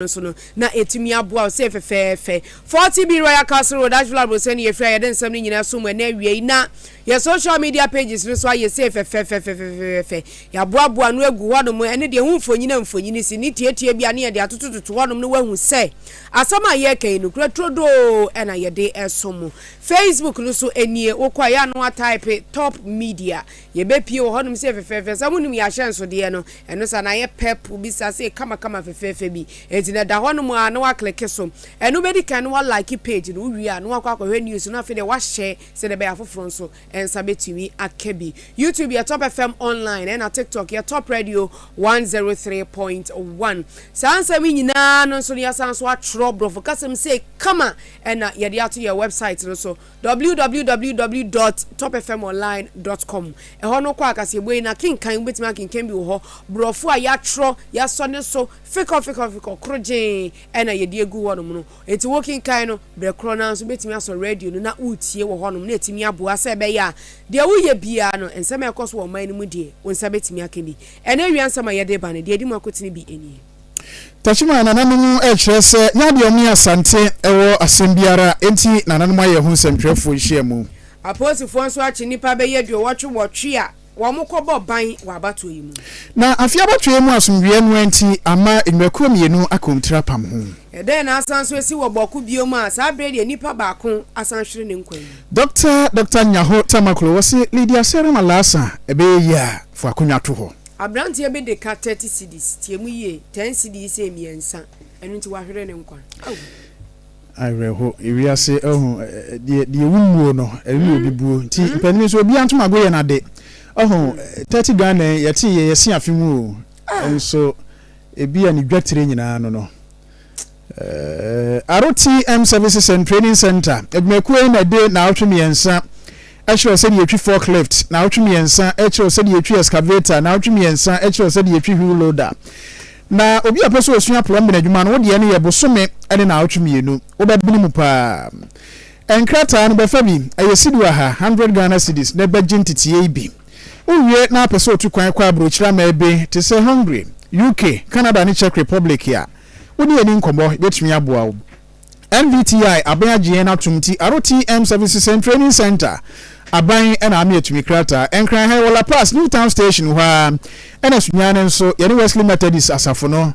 no so no, na etumi aboa wo. Sei fɛfɛɛfɛ. Forty B Royal Castle Road, Asheville Aborosan na yɛfiri a yɛde nsɛm no nyinaa som ɛnnɛ awiei. Na yɛn social media pages no nso ayɛ sei fɛfɛɛfɛfɛfɛɛfɛ. Yɛaboaboa ano agu hɔnom. Ɛne deɛ ɛho mfonini a mfonini si ne tiatia bi a na yɛde atotototo hɔnom no woahu sɛ asɛm a yɛreka yi nokorɛ turodoo na yɛde som mo. Facebook no nso nie. Wokɔ a ɛyɛ a na woataipe Top Media Yɛbɛpie wɔ hɔnom sɛ fɛfɛɛfɛ. Sɛ monim yɛn ahyɛnsodeɛ no, ɛno saa no ayɛ pɛp, wobisa sɛ kamakama fɛfɛɛfɛ bi. Enti na ɛda hɔnom ara na woakleke so. Ɛno bɛdi kan na woalike page no, wowie a na woakɔ akɔhwɛ news no, afei deɛ woahyɛ sɛdeɛ ɛbɛyɛ a afoforɔ nso nsa bɛtumi aka bi. YouTube yɛ Top FM Online ɛna TikTok yɛ Top Radio 103.1. Saa nsɛm yi nyinaa no nso no yɛasan nso atwerɛ borɔfo kasam sei kama ɛna yɛde ato yɛn website no so. www dot topfmonline dot com Ɛhɔ no kɔ akaseɛbue yi na kenkan, wobɛtumi akenkan bi wɔ hɔ, borɔfo a yɛatwerɛ, yɛasɔ ne so fekɔ fekɔ fekɔ, korogyee na yɛde agu hɔ nom no. Enti wokenkan no berɛ korɔ no ara nso wobɛtumi asɔ radio no na woretie wɔ hɔ nom na atumi aboa sɛ ɛbɛyɛ a deɛ woyɛ biara no, nsɛm a ɛkɔ so wɔ ɔman no mu deɛ, wo nsa bɛtumi aka bi. Ɛnnɛ awia nsɛm a yɛde reba no, deɛ ɛdi mu akotene bi nie. Takyimaa nananom rekyerɛ sɛ nyɛ adeɛ wɔn yɛ asante wɔ asɛm biara nti nananom ayɛ ho nsɛmtwerɛfoɔ nhyiamu. Apolisifoɔ nso akye nnipa bɛyɛ aduowɔtwe wɔtwe a wɔn kɔ bɔ ban wɔ abatoɔ yi mu. Na afe abatoɔ yi mu asomdwoeɛ noa nti ama nnwumakuo mmienu aka wɔn tiri apam ho. Ɛdɛn na asan nso asi wɔ bɔko bio mu a saa berɛ deɛ nnipa baako asan hwere ne nkwa yi. Dɔkta Dɔkta Nyaho Tamaklo, wɔse Lydia Serem Alaasa ɛbɛyɛ yie a fo akonnwa to hɔ. Aberanteɛ bi de ka thirty cedis, tie mu yie, ten cedis yɛ mmiɛnsa, ɛno nti wahwere ne nkwa. Aww. Awerɛho, ewiase ahu, deɛ deɛ ewu mmuo no, ɛwe obi buo, nti mpanin nso obiara ntom ago yɛ n'ade, ɔho, thirty Ghana yi, yɛtee yɛ yɛse afe mu o, nso ebia ne dwa tire nyinaa no no, Eh, RTM Services and Training Center adwumakuo yi na ɛde naawɔtwe mmiɛnsa ɛkyerɛ sɛ deɛ ɛtwi forklift, naawɔtwe mmiɛnsa ɛkyerɛ sɛ deɛ ɛtwi excavator, naawɔtwe mmiɛnsa ɛkyerɛ sɛ deɛ ɛtwi wheel loader. Na obi a pɛ sɛ ɔsua plumbing adwuma no, wo deɛ no yɛ bosome ne naawɔtwe mmienu, wobɛbene mu paa. Nkrataa no bɛfa bi, ɛyɛ sidi waha, 100 Ghana cedis, na ɛbɛgye nteteɛ yi bi. Wowie na apɛ sɛ otu kwan kɔ aburokyiri aman bi te sɛ Hungary, UK, Canada ne Czech Republic a, wo ne yɛn nni nkɔmmɔ, yɛbɛtumi aboa wo. NVTI aban agye yɛn atom nti, RTM Services and Training Centre aban na ama yɛatumi krataa. Nkran ha wɔ La Paz, New Town Station hɔ ara na Sunyani nso, yɛne Wesley Methodist asafo no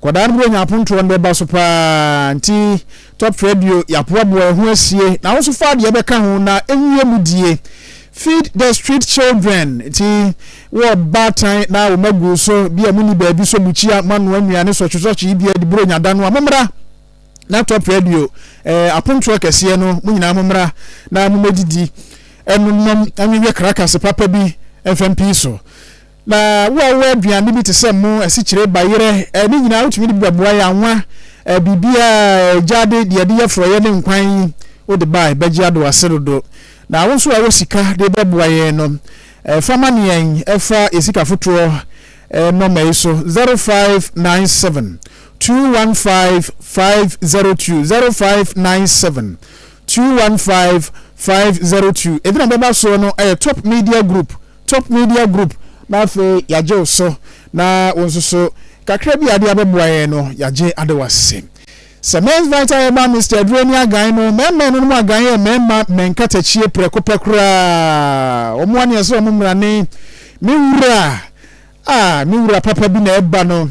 Nkwadaa no bɛnya apontoɔ no bɛba so paa nti Top Radio yɛaboaboa yɛn ho asie na wo nso fa deɛ bɛka ho na ɛnwie mu die. Feed the street children nti wɔ baatan na wo ma gu so bi a monni baabi so mukyia moanoa nnuane sɔkyesɔkye yi bia de buro nyada no a mommra na Top Radio eh, apontoɔ kɛseɛ no mo nyinaa mommra na momɛdidi ɛnonom anwehwɛ krakase papa bi mfɛm pii so Na wo a wowɔ aduane bi te sɛ mo, asikyire, bayerɛ, eh, ne nyinaa wotumi de bi bɛboa yɛ anwa, eh, biribiara, eh, gyaade, deɛ yɛde yɛ forɔeɛ ne nkwan yi, wode bae, bɛgye ado wase dodo. Na wo nso a wowɔ sika de bɛboa yɛn no, eh, fa ma ne yɛn, eh, fa yɛ sika fotoɔ, eh, nɔma yi so, 0597 215 502, 0597 215 502. Ɛdina bɛba soɔ no, ɛyɛ Top Media Group, Top Media Group na afei yɛagye wo so na wo nso so kakra bi a wode abɛboa yɛn no yɛagye ade wo ase. Sɛ Men's Vita yɛ ma Mister Aduro ani agan no, mɛɛma ɛno no mu agan yɛ mɛɛma mɛ nkatakyie prɛko pɛ koraa. Wɔn a ne ɛsɛ wɔn mmrane, me wura, ah me wura papa bi na ɛba no.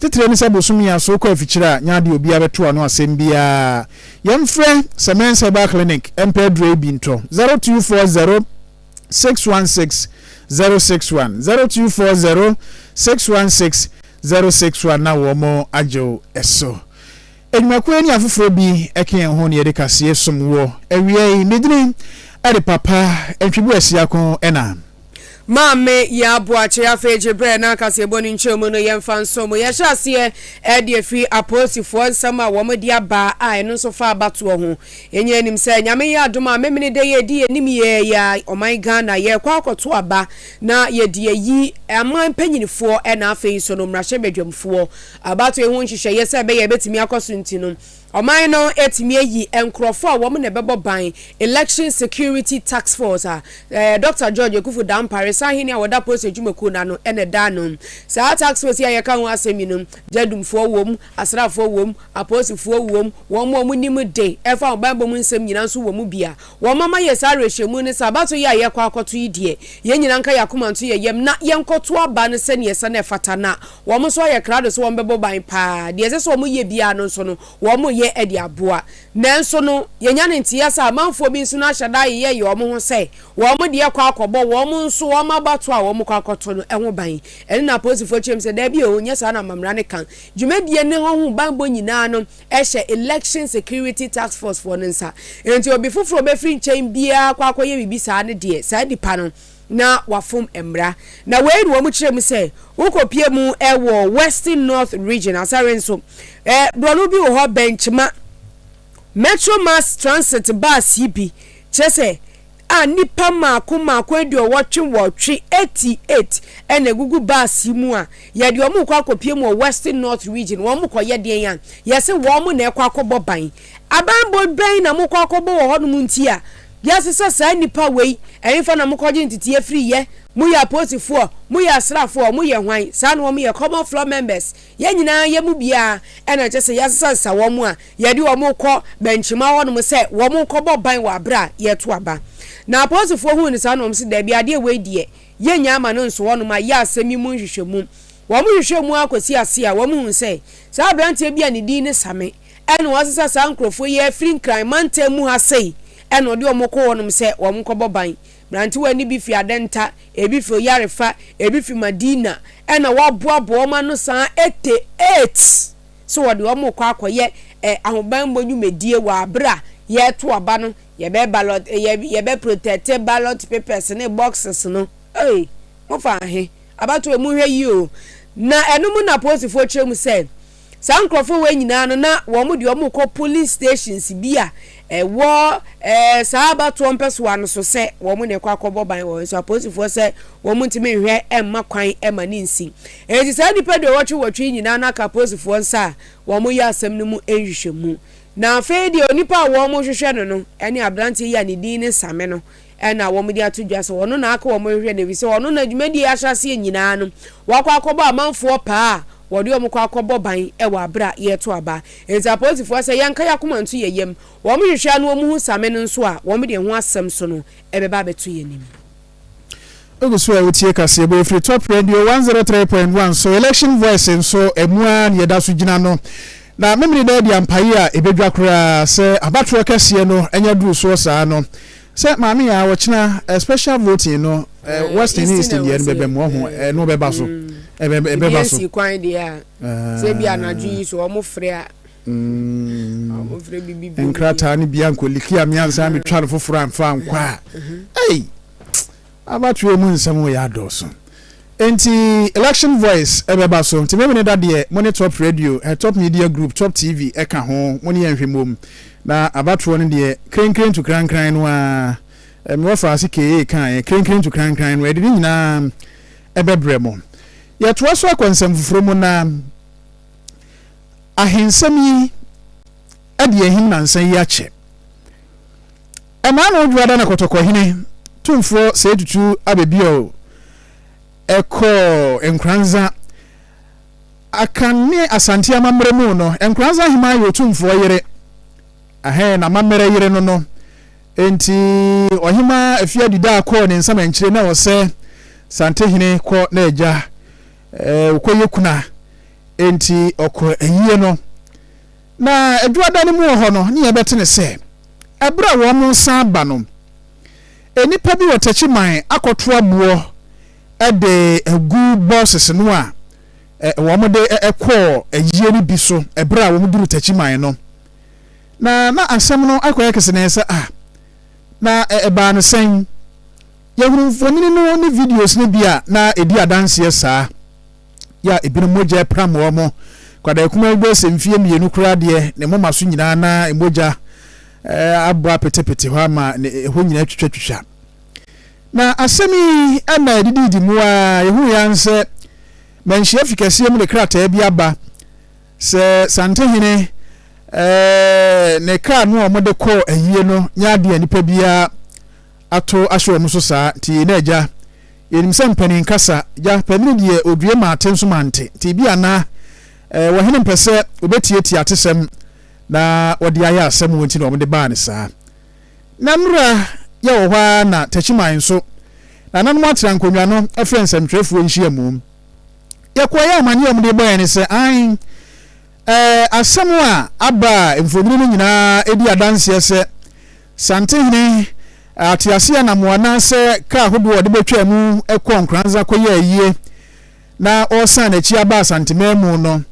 Titire ne sɛ bosome a so kɔ afikyire a nyɛ adeɛ obiara bɛto ano asɛm biara. Yɛmfrɛ Semen's Herbal Clinic mpɛ aduro yi bi ntɔ, zero two four zero six one six zero six one, zero two four zero six one six zero six one na wɔn agye wo so. Adwumakuo ne afoforɔ bi ɛka yɛn ho na yɛde kaseɛ som woɔ. Awia yi, me dini ɛde Papa Ntwibu Asiako ɛna. Maame Yaa Boakye. Afei gye berɛ na kaseɛbɔ no nkyɛmu no yɛmfa nsom wo. Yɛhyɛ aseɛ ɛde afiri Apolisifoɔ nsɛm a wɔn de aba a ɛno nso fa abatoɔ ho. Yɛnyaa anim sɛ Nyame yɛ adom a Memeneda yi ɛde yɛnim yɛɛ yɛ ɔman Ghana yɛrekɔ akɔto aba na yɛde ayi aman panyinifoɔ ɛna afei nso no mmarahyɛbadwamfoɔ Abatoɔ ho nhyehyɛeɛ sɛ ɛbɛyɛ a ɛbɛtumi akɔ so nti no, ɔman no atumi ayi nkorɔfoɔ a wɔn na ɛbɛbɔ ban, Election Security Task Force, a Dɔkta George Akuffo Dampare, Sahene a wɔda Polisi Adwumakuo no ano, na ɛda ano. Saa task force yi a yɛka ho asɛm yi no, gyadumfoɔ wom, asraafoɔ wom, apolisifoɔ wom, wɔn a wɔnim de ɛfa ahobammɔ mu nsɛm nyinaa nso wɔ mu bi a wɔama yɛn saa awerɛhyɛmu no sɛ abatoɔ yi a yɛrekɔ akɔto yi deɛ, yɛn nyinaa nka yɛn akoma nto yɛn yam na yɛnkɔto aba no sɛdeɛ ɛsɛ na ɛfata na Wɔn nso ayɛ krado sɛ wɔbɛbɔ ban paa. Deɛ ɛsɛ sɛ wɔyɛ biara no nso no, wɔyɛ de aboa. Nanso no, yɛnya no nteeɛ sɛ amanfoɔ bi nso no ahyɛ da ayeyɛ yɛ wɔn ho sɛ wɔn deɛ kɔ akɔbɔ wɔn nso wɔn abatoɔ a wɔkɔ akɔto no ho ban. Ɛno na apolisifoɔ kyerɛm sɛ, Dabi o, nyɛ saa na amammerɛ no ka. Dwumadie no ho banbɔ nyinaa no hyɛ Election Security Task Force foɔ no nsa. Enti obi foforɔ a ɔbɛfiri nkyɛn biara kɔ akɔyɛ biribi saa no deɛ, saa nipa no, na wɔafom mmara. Na wei na wɔn kyerɛ mu sɛ, wokɔpie mu wɔ Western North Region asare nso. Borɔno bi wɔ hɔ bɛn kyema Metro Mass Transit bus yi bi, kyerɛ sɛ, a nnipa mmaako mmaako aduɔwɔtwe nwɔtwe, 88, na ɛgugu bus yi mu a, yɛde wɔn rekɔ akɔpie mu wɔ Western North Region. Wɔn rekɔyɛ deɛn a? Yɛse wɔn na ɛrekɔ akɔbɔ ban. Abanbɔ bɛn na mokɔ akɔbɔ wɔ hɔnom nti a, Wiase sɛ saa nnipa wei ɛhefa na mokɔgye nteteɛ firi yɛ? Moyɛ apolisifoɔ? Moyɛ asraafoɔ? Moyɛ hwan? Saa na wɔyɛ common floor members. Yɛn nyinaa yɛ mu biara ɛna kyerɛ sɛ yɛasesa sesa wɔn a yɛde wɔn rekɔ bɛnkyema hɔnom sɛ wɔn nkɔbɔ ban wɔ aberɛ a yɛreto aba. Na apolisifoɔ huu no saa na wɔn se daabi adeɛ wei deɛ yɛnnya mma no nso hɔnom ayɛ asɛm yi mu nhwehwɛmu. Wɔn hwehwɛɛ mu ara kɔsii aseɛ a wɔhuu sɛ saa aberanteɛ bi a ne din ne Same, Ɛna wɔasesa saa nkurɔfoɔ yi afiri Nkran mantam mu ha sei, ɛna wɔde wɔn kɔ hɔnom sɛ wɔnkɔbɔ ban. Mmerantewa no bi firi Adenta, ebi firi Oyarefa, ebi firi Madina, ɛna wɔaboaboa wɔn ano saa ete ate sɛ wɔde wɔn rekɔ akɔyɛ ɛ, ahobammɔ nnwumadie wɔ aberɛ a yɛreto aba no, yɛbɛ ballot, yɛ, yɛbɛ protɛte ballot papers ne boxes no. Ei, mofa ahe? Abatoɔ yi, monhwɛ yie o. Na ɛno mu na apolisifoɔ kyerɛ mu sɛ, Saa nkorɔfoɔ wei nyinaa no na wɔn deɛ wɔn rekɔ polling stations bi a ɛwɔ ɛɛ saa abatoɔ mpɛsoa no so sɛ wɔn na ɛkɔ akɔbɔ ban wɔ hɔ nso apolisifoɔ sɛ wɔn ntumi nhwɛ mma kwan ma no nsi enti saa nnipa aduowɔtwe wɔtwe yi nyinaa no aka apolisifoɔ nsa a wɔn yɛ asɛm no mu nhwehwɛmu na afei deɛ onipa a wɔn rehwehwɛ no no ɛne abranteɛ yi a ne din ne Same no Ɛnna wɔde ato dwa sɛ ɔno na aka wɔn rehwehwɛ no, efisɛ ɔno na dwumadi a ɛhyɛ aseɛ nyinaa no, wakɔ akɔbɔ amanfoɔ paa a wɔde wɔn kɔ akɔbɔ ban wɔ aberɛ a yɛreto aba. Enti apolisifoɔ sɛ yɛnka yɛn akoma nto yɛn yam, wɔhwehwɛ a na wɔhu Same no nso a, wɔde ɛho asɛm so no bɛba abɛto yɛn anim. Wogu so a wotie kaseɛbɔ yi firi Top Radio one zero three point one so, Election Voice nso ɛmu ara na yɛda so gyina no. Na Memeneda adi ampaeɛ a ɛbɛdwa koraa sɛ abatoɔ kɛseɛ no anya duru soɔ saa no. Sɛ maame yɛ a ɔkyena special voting no western ne eastern deɛ no bɛba mu ɔho ɛno ɔbɛba so ɛbɛba so. Ebi nsi kwan deɛ a sɛ bi anadwo yi so ɔmo frɛ a ɔmo frɛ bibi bi. Nkrataa no bi ankɔ liki a mi ansa mi twa no foforɔ anfa ankɔ a ɛyi. Abatoɔ mu nsɛm wei adɔɔso nti Election Voice bɛba so nti Memene Da deɛ mo ne Top Radio, Top Media Group, Top TV ka ho mo ne yɛn nhwɛ mmom na abatoɔ no deɛ krenkren to krankran no ara me wɔfa ase KA kaeɛ krenkren to krankran no yɛde ne nyinaa bɛbrɛ mo. Yɛtoa so akɔ nsɛm foforɔ mu na ahensɛm yi de ahim nansa yi akyɛ. Ɛmaa no dwoada na Kɔtɔkɔhene Tumfoɔ Seyi Tutu Abebiɔl kɔɔ Nkoranza. Akan ne Asante amammerɛ mu no, Nkoranza Heman yɛ Otumfoɔ yere. Ahɛn n'amammerɛ yere no no nti, Ɔhemaa Afiadidaa kɔɔ ne nsam ankyire na ɔsɛ Santehene kɔ n'agya ɔkɔyɛ kuna nti ɔkɔ ayie no. Na Adwuada no mu wɔ hɔ no, ne yɛbɛte ne sɛ, ɛberɛ a wɔresan ba no, nnipa bi wɔ Techiman akɔtoa boɔ de agu bɔɔses no a wɔde kɔɔ ayie no bi so ɛberɛ a wɔduru Techiman no. Na na asɛm no akɔyɛ kesenee sɛ, Ah, na ɛbaa no sɛn? Yɛhunuu mfonini no ne videos no bi a na ɛdi adanseɛ saa. yɛ a ebinom mogya pram wɔn. Kwadaa kumaa bi bɛyɛ sɛ mfeɛ mmienu koraa deɛ, ne moma so nyinaa na mogya abɔ apetepete hɔ ama ɛhɔ nyinaa twitwatwitwa. Na asɛm yi na ɛdidiidi mu a yɛhu yɛn sɛ manhyia fi kɛseɛ mu de krataa bi aba sɛ Santehene ne kaa no a wɔde kɔɔ ayie no nyɛ adeɛ a nipa biara ato ahyɛ wɔn so saa, nti yei na agya, yɛnim sɛ mpanin kasa, gya, panini deɛ ɔdue ma ate nso ma nte, nti ebia na eh, wɔhene mpɛ sɛ wɔbɛtietie atesɛm na wɔde ayɛ asɛm wɔ nti na wɔde baa ne saa. Na nnora yɛ wɔ hɔ ara na takyiman nso, na ananom atena nkonnwa no frɛ nsɛmtwerɛfoɔ nhyiamu. Yɛkɔɔ yɛ amaneɛ a wɔde bɔ yɛn ne sɛ, an, eh, asɛm a aba a mfonini no nyinaa di adanseɛ sɛ Santehene ateaseɛnam anaasɛ kaa ahodoɔ a wɔde bɛtwaa mu kɔɔ Nkoranza kɔyɛɛ ayie na wɔresan n'akyi aba Asantemaamu no,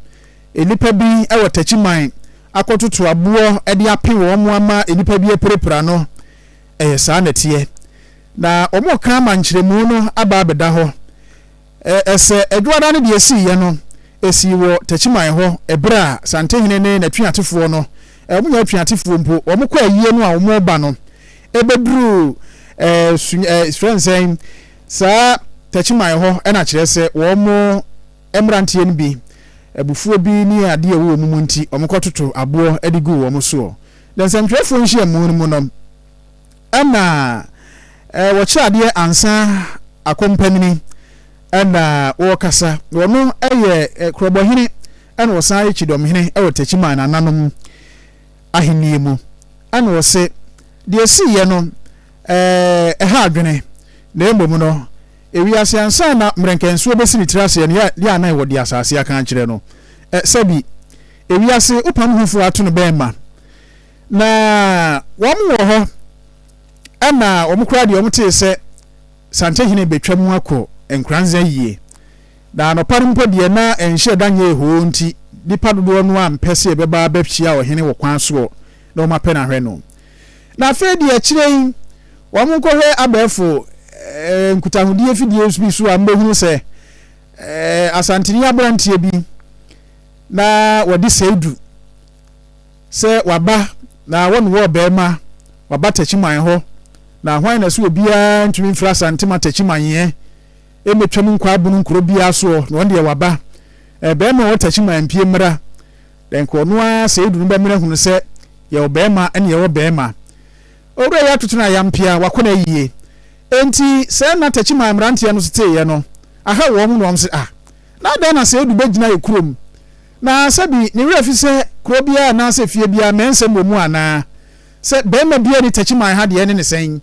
nnipa bi wɔ Takyiman akɔtoto aboɔ de ape wɔn ama nnipa bi apirapira no. Ɛyɛ saa na ɛteɛ. Na wɔreka ama nkyerɛmu no aba abɛda hɔ. Ɛ sɛ Adwuada no deɛ sii yɛ no, ɛsii wɔ Takyiman hɔ ɛberɛ a Santehene ne n'atuatefoɔ no, ɛ wɔnyɛ atuatefoɔ mpo, wɔn kɔ ayie no a wɔn reba no, ɛbɛduruu ɛ su ɛ yɛfrɛ no sɛn, saa Takyiman hɔ, ɛna kyerɛ sɛ wɔn mmeranteɛ no bi, abufuo bi ne adeɛ a ɛwɔ wɔn mu nti, wɔkɔtoto aboɔ de guu wɔn soɔ. Dɛ nsɛntwerɛfoɔ nhyiamu no mu no, Ɛna wɔkyerɛ adeɛ ansa akɔmpanin ɛna wɔkasa. Wɔno yɛ korɔbɔhene ɛna wɔsan yɛ kyidɔmhene wɔ Techiman nananom ahennie mu. Ɛna wɔse deɛ ɛsiiɛ no ɛha adwene na mmom no ewiase ansa na mmerɛnkɛnsoɔ bɛsi ne tiri aseɛ no yɛ a na wɔde asase aka akyerɛ no sɛbi ewiase wopam ho foɔ ato no bɛn ma. Na wɔwɔ hɔ ma wɔn koraa deɛ wɔtee sɛ Sankyehene rebɛtwa mu akɔ Nkoranza yie. Na anɔpa no mpo deɛ na nhyɛ da nyɛɛ hoo nti nnipa dodoɔ no ara mpɛ sɛ ɛbɛba abɛhyia ɔhene wɔ kwan soɔ na wɔn apɛ no ahwɛ no. Na afei deɛ akyire yi wɔn kɔhwɛ abɛɛfo eh, nkutahodie fidie bi so a mbɛhunu sɛ eh, Asanteni aberanteɛ bi na wɔde sɛidu Sɛ wɔaba na wɔne wo ɔbarima waba Takyiman hɔ, na hwan na so obiara ntumi mfiri Asantem Atakyiman ɛ? Ɛmɛtwam nkɔ Abono nkuro biara soɔ, na ɔndeɛ waba. Ɛ, barima ɔwɔ Takyiman mpue mmra. Dɛ nka ɔno ara sɛ ɛduru no bɛmene ahunu sɛ yɛwɔ barima ne yɛwɔ barima. Owura yi atoto no ayampea, wakɔ no ayie. Enti sɛɛ na Takyiman mmeranteɛ no so teeɛ no, aha wɔn na wɔn se, Ah, na adɛn na sɛ ɛdu bɛgyina yɛ kurom? Na sɛbi ne werɛ fi sɛ kuro biara anaasɛ fie biara mɛnsɛm wɔ mu anaa? Sɛ barima biara nni Techiman ha deɛ ɛne ne sɛn?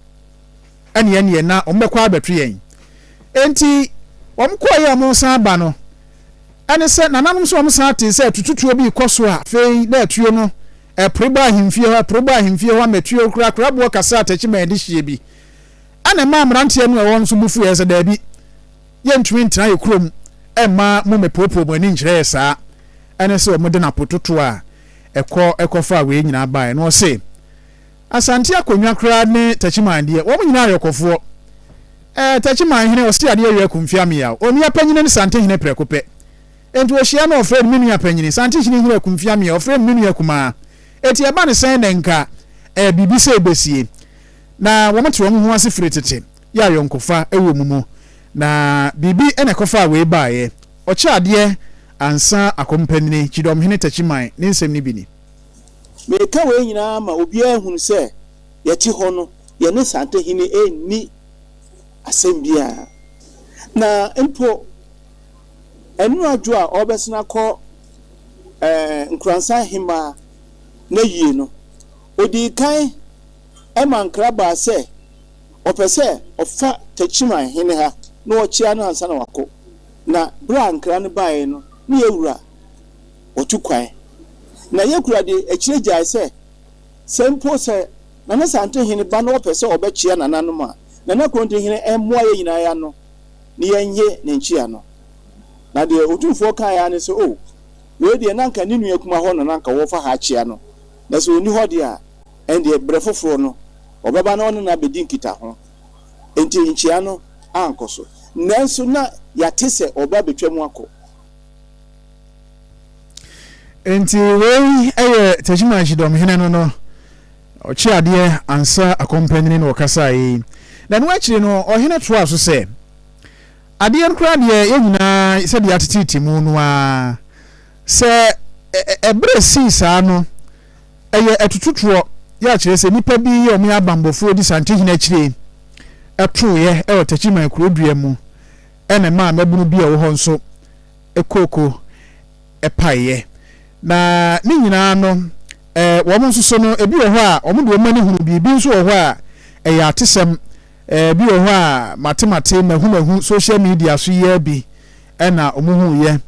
Ɛne ɛneɛ na wɔbɛkɔ abɛto yɛn. Enti wɔkɔeɛ a wɔresan aba no, ɛne sɛ nananom nso wɔsan tee sɛ atututuo bi rekɔ so a afei na atuo no ɛpore bɔ ahemfie hɔ, ɛpore bɔ ahemfie hɔ ama atuo kura kura boɔ kɛse a Techiman de hyeɛ bi. Ɛna ɛmaa mmeranteɛ no a ɛwɔ hɔ no nso bo fuiɛ sɛ daabi, Yɛntumi ntena yɛn kurom mma mommɛpoopoo mo ani nkyerɛ yɛn saa. Ɛne sɛ wɔde no apototoɔ a ɛkɔ kɔfaa wei nyinaa baeɛ. Na ɔse, Asante Akonnwa koraa ne Takyiman deɛ, wɔn nyinaa ayɔkɔfoɔ. Ɛɛ, Takyiman hene ɔse adeɛ yɛ akum Fiameaw. Onua panyini ne Sante hene prɛko pɛ. Enti ɔhyia no ɔfrɛ no me nua panyini. Sante hene hene akum Fiameaw, ɔfrɛ no me nua kumaa. Enti ɛba no sɛn na nka ɛɛ biribi sei bɛsie. Na wɔte wɔn ho ase firi tete. yɛ ayɔnkofa wɔ mu mu, na biribi na ɛkɔfaa wei baeɛ. Ɔkyɛ adeɛ ansa akɔmpanin, Kyidɔmhene Takyiman, ne nsɛm no bi ni. Mereka wei nyinaa ma obiara ahunu sɛ yɛte hɔ no, yɛne Santehene nni asɛm biara, na mpo Anuadwo a ɔrebɛsene akɔ Nkoransan Hemmaa n'ayie no, ɔdii kan ma nkra baa sɛ, Ɔpɛ sɛ ɔfa Techiman hene ha na ɔkyea no ansa na wakɔ. Na berɛ a nkra no baeɛ no, na Yekura ɔtu kwan. Na Yekura de akyire gyae sɛ, sɛ mpo sɛ Nana Santehene ba na ɔpɛ sɛ ɔbɛkyea nananom a, Nana Krontenhene mmoa yɛn nyinaa ano na yɛnnye ne nkyea no. Na deɛ Otumfoɔ kaeɛ ara ne sɛ, Oh, wei deɛ na anka ne nua kumaa hɔ na na anka wɔfa ha akyea no, na sɛ ɔnni hɔ deɛ a, Ɛnde, bere foforo no, ɔbɛba na ɔne no abedi nkitaho. Enti nkyia no ankɔ so. Nanso na yɛate sɛ ɔba betwam akɔ. Enti wei yɛ Tachima Kyidɔmhene no no ɔkye adeɛ ansa akɔmpanin no ɔkasaeɛ yi. Na ɛno akyiri no, ɔhene toaa so sɛ, Adeɛ no koraa deɛ, yɛn nyinaa sɛdeɛ yɛateteete mu no ara, sɛ ɛberɛ sii saa no, Ɛyɛ atututoɔ yɛ a kyerɛ sɛ nnipa bi yɛ wɔn abanbɔfoɔ di Santehene akyire tooeɛ wɔ Takyiman kuro dua mu na ɛmaa mmabunu bi a wɔwɔ hɔ nso kooko paeɛ. Na ne nyinaa no, wɔn nso so no, ebi wɔ hɔ a wɔde wɔn ani hunu bi, ebi nso wɔ hɔ a ɛyɛ atesɛm, ebi wɔ hɔ a mate mate, mahu mahu, social media so yɛ bi na wɔhuuiɛ.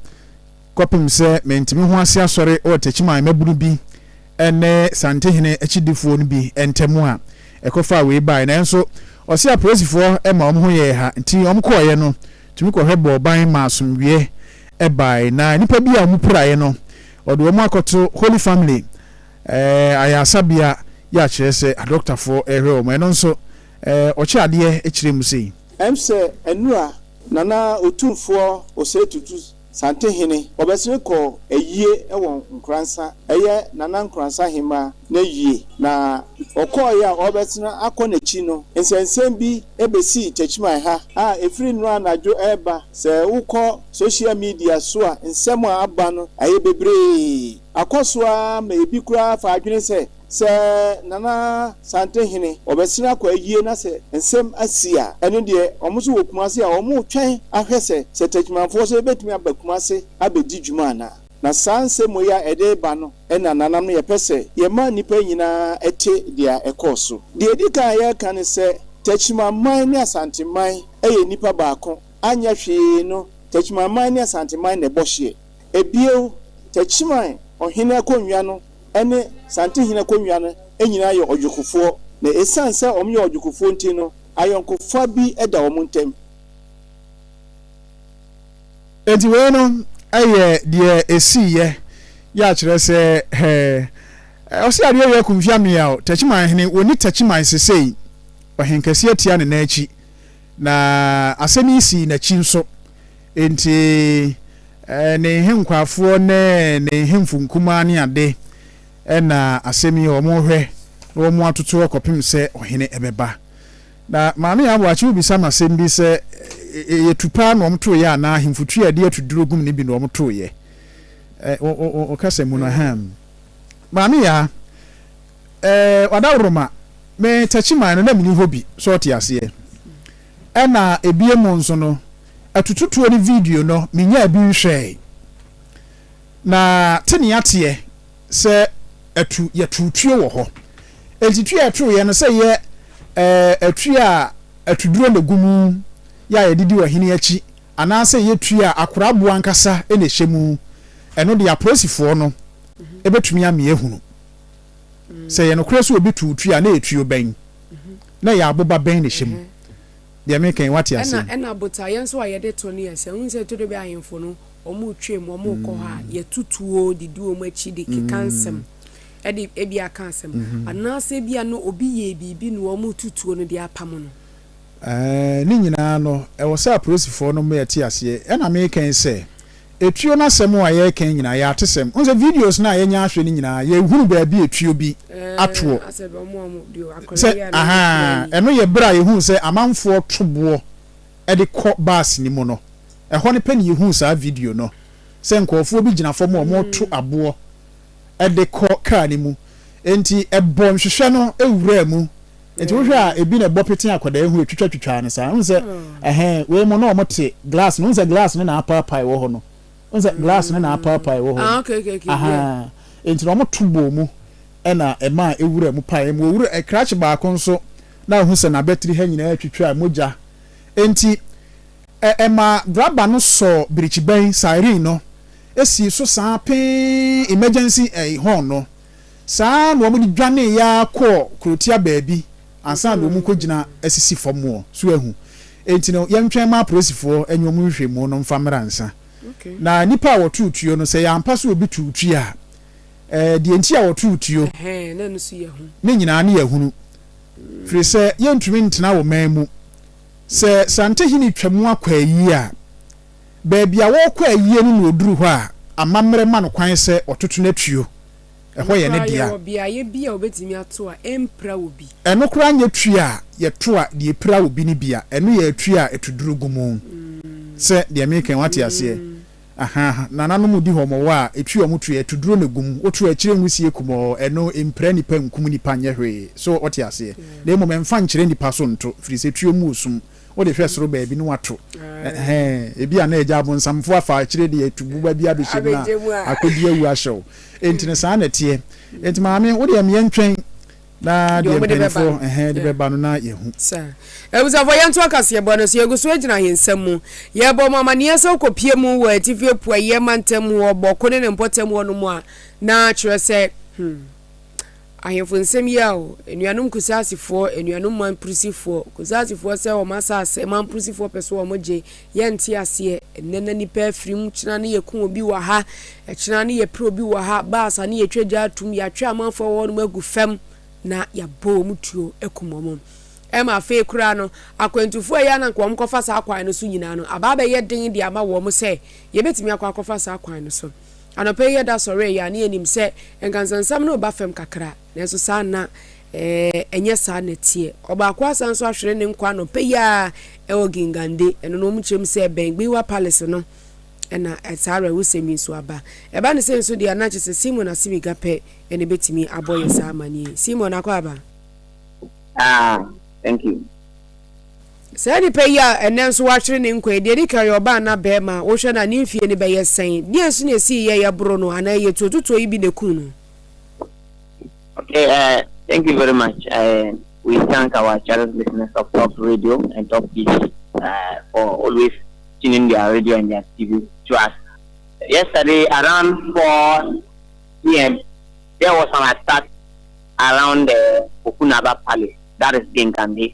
kɔpem sɛ mente me ho ase asɔre wɔ Techiman mmabunu bi ne Santehene akyidifoɔ no bi ntamu a ɛkɔfaa wei baeɛ. Nanso ɔse apolisifoɔ ma wɔn ho yɛɛ ha nti wɔn kɔeɛ no tumi kɔhwɛ bɔɔ ban maa asomdwoeɛ baeɛ na nnipa bi a wɔn piraeɛ no wɔde wɔn akɔto Holy Family ayaresabea yi a kyerɛ sɛ adɔktafoɔ rehwɛ wɔn. Ɛno nso ɔkyɛ adeɛ kyerɛ mu sei. Ɛm sɛ ɛnura na na Otumfoɔ Osei Tutu Santehene. Wɔbɛsere kɔ ayie wɔ Nkoransa, ɛyɛ Nana Nkoransa Ahemaa no ayie, na wɔkɔeɛ a wɔrebɛsene akɔ no akyi no, nsɛnsɛm bi bɛsii Techiman ha a ɛfiri nnora anadwo reba, sɛ wokɔ social media so a nsɛm a aba no ayɛ bebree, akɔ so ara ma ɛbi koraa fa adwene sɛ Sɛ Nana Sante hene ɔbɛsene akɔ ayie na sɛ nsɛm asi a, ɛno deɛ wɔn nso wɔ Kumase a wɔretwɛn ahwɛ sɛ sɛ Takyimanfoɔ nso bɛtumi aba Kumase abɛdi dwuma anaa. Na saa nsɛmmɔ yi a ɛde reba no na Nananom no yɛpɛ sɛ yɛma nnipa nyina ara te deɛ ɛkɔɔ so. Deɛ ɛdi kan a yɛreka ne sɛ Takyimanman ne Asanteman yɛ nnipa baako, anyɛ hwee no Takyimanman ne Asanteman na ɛbɔ hyeɛ. Bio, Techiman ɔhene akonnwa no ne Santehene akonnwa no nyinaa yɛ ɔdwokofoɔ, na ɛsiane sɛ wɔyɛ ɔdwokofoɔ nti no, ayɔnkofa bi da wɔn ntam. Enti wei no yɛ deɛ ɛsiiɛ yɛ akyerɛ sɛ hɛ ɛ ɔse adeɛ wei aku mfia meaw Techiman hene, wɔnni Techiman sesei, ɔhenkɛseɛ tia ne nan akyi, na asɛm yi sii n'akyi nso. Enti ne nhenkwaafoɔ ne ne nhemfo nkumaa ne ade na asɛm yi wɔrehwɛ na wɔatoto hɔ kɔpem sɛ ɔhene bɛba. Na Maame Aboakye wobisa me asɛm bi sɛ ɛyɛ tu paa na wɔtoeɛ anaa ahemfo tu a ɛde atuduro gum no bi na wɔtoeɛ? Wo kasa mu no ahem. Maame Yaa, Wadaworoma, me Takyiman no na menni hɔ bi, so ɔte aseɛ. Ɛna ebien mu nso no, atututuo ne video no me nyaa bi nhwɛɛe. Na te nea teɛ sɛ atu yɛ too tuo wɔ hɔ. Enti tuo a ɛtoo yɛ no sɛ yɛ ɛɛ tuo a atuduro na egu mu yɛ a yɛde di ɔhene akyi anaa sɛ yɛ tuo a akora aboɔ ankasa na ɛhyɛ mu. Ɛno deɛ apolisifoɔ no bɛtumi ame ahunu. Sɛ ɛyɛ nokorɛ sɛ obi tu wo tuo a, na ɛyɛ tuo bɛn? Na ɛyɛ aboba bɛn na ɛhyɛ mu? Deɛ mereka yi, woate aseɛ? Ɛna, ɛna botaeɛ nso a yɛde to no yɛ sɛ, wohu sɛ todobɛ ahemfo no, wɔretwam, wɔrekɔ hɔ a, yɛto tuo de di wɔn akyi de keka nsɛm, de ebia ka asɛm. Anaasɛ ebia na obi yɛɛ biribi na wɔreto tuo no de apamo no. Ne nyinaa no, ɛwɔ sɛ apolisifɔɔ no ma yɛte aseɛ, ɛna meekɛn sɛ, etuo no asɛm a yɛɛkɛn nyinaa, yɛ atesɛm. Wohu sɛ videos no a yɛnya ahwɛ no nyinaa, yɛhunu baabi a etuo bi atoɔ. Sɛ, ahaa, ɛno yɛ berɛ a yɛhuu sɛ amanfoɔ to boɔ de kɔ bus no mu no, ɛhɔ no pɛ na yɛhuu saa video no, sɛ nkorɔfoɔ bi gyina fam a wɔreto aboɔ de kɔ car no mu. Enti ɛbɔɔ nhwehwɛ no wuraa mu. Nti wohwɛ a ebi na ɛbɔ pete akwadaa yi ho etwitwa twitwa no saa. Wohu sɛ ɛhɛn wei mu na wɔn te glass no. Wohu sɛ glass no na apaapae wɔ hɔ no. Wohu sɛ glass no na apaapae wɔ hɔ no. Ah, okay, okay, okay. Aha. Yeah. Nti na wɔn to bɔɔ mu ɛna ɛma ewura mu pae mu. Owura ɛkrakye baako nso na wohu sɛ n'abatiri ha nyinaa twitwa mogya. Nti ɛ ɛma graba no sɔ birikyibɛn siren no esi so saa pee emergency ɛɛ horn no. Saa ara na wɔde dwaneeɛ ara kɔɔ kurotia baabi ansa na wɔrekɔgyina asisi fam hɔ. So ahu? Enti no, yɛntwɛn mma apolisifoɔ ne wɔn nhwehwɛmu no mfa mmra ansa. Na nnipa a wɔtoo tuo no, sɛ ɛyɛ ampa sɛ obi too tuo a, deɛ enti a wɔtoo tuo no nyinaa no yɛahunu. Ɛfiri sɛ yɛntumi ntena wo man mu. Sɛ Santehene twa mu akɔ ayie a, Baabi a wɔrekɔ ayie no na ɔduru hɔ a, amammerɛ ma no kwan sɛ ɔtoto n'atuo. Ɛhɔ yɛ ne dea. Ɛno koraa nyɛ tuo a yɛto a deɛ ɛpira obi no bi a, ɛno yɛ atuo a ɛto duru gu mu. Sɛ deɛ mereka yi, moate aseɛ? Ahaa. Nananom di hɔ, wɔwɔ a, ɛtuo a wɔto yi, ɛto duro na ɛgu mu. Woto a, akyire nwisie kumɔɔ, ɛno, ɛmpira nnipa, ɛnkum nnipa, ɛnyɛ hwee. So, wote aseɛ? Na mmom, ɛmfa nkyerɛ nnipa so nto, ɛfiri sɛ tuo mu wɔ sum. Wode hwɛ soro baabi na wɔato ɛhɛn. Ebi a na agya abonsamfo afa akyire de atu boba bi abɛhyɛ mu na akɔdi awu ahyɛ wo. Enti no saa na ɛteɛ. Enti maame, wo deɛ meɛ ntwɛn na deɛ mpanimfoɔ ɛhɛn de bɛba no na yɛahu. Saa. Abusuafoɔ yɛnto akaseɛbɔ no so. Yɛgu so gyina ahensɛm mu. Yɛrebɔ mo amaneɛ sɛ wokɔpue mu wɔ Atifi Apueeɛ mantam mu wɔ Bɔko ne ne mpɔtam hɔnom a, na kyerɛ sɛ, hmm. Ahemfo nsɛm yi a o, anuanom Kusaasifoɔ, anuanom Mamprisifoɔ, Kusaasifoɔ sɛ wɔn asase, Mamprisifoɔ pɛ sɛ wɔn gye, yɛ nte aseɛ, ɛnnɛ na nipa afiri mu, kyena ne yɛ ku obi wɔ ha, ɛkyena ne yɛ pere obi wɔ ha, baas a ne yɛ twa gya atum, yɛ atwe amanfoɔ wɔ hɔ nom agu fam, na yɛ abɔ wɔn tuo akum wɔn. Ɛma afei koraa no, akwantufoɔ a ɛyɛ a na nka wɔn kɔ fa saa kwan no so nyinaa no, aba abɛyɛ den de ama wɔn sɛ yɛbɛtumi akɔ akɔ fa saa kwan no so. Anɔpa yi yɛda sɔree yi a, na yɛnim sɛ nkansasɛm no reba fam kakra, nanso saa nna ɛnyɛ saa na ɛteɛ. Ɔbaako asan nso ahwere ne nkwa anɔpa yi ara wɔ Gingande, ɛno no wɔn kyerɛ mu sɛ ɛbɛn Gwiwa Palace no na saa awerɛhosɛm yi nso aba. Ɛba no sei nso deɛ a, na kyerɛ sɛ Simon Asimiga pɛ na ɛbɛtumi abɔ yɛn saa amaneɛ yi. Simon Akwaaba. Ah, thank you. Saa nipa yi a ɛnnɛ nso wahwere ne nkwa yi, deɛ ɛdi kan, ɔyɛ ɔbaa anaa barima a? Wohwɛ no a, ne mfeɛ no bɛyɛ sɛn? Deɛn nso na ɛsii yɛ a yɛboro no anaa ɛyɛ tuotutuo yi bi na ɛkum no? Okay, uh, thank you very much. Uh, we thank our cherished listeners of Top Radio and Top TV uh, for always tuning their radio and their TV to us. Yesterday, around 4 p.m., there was an attack around the Okunaba Palace, that is Gengambi.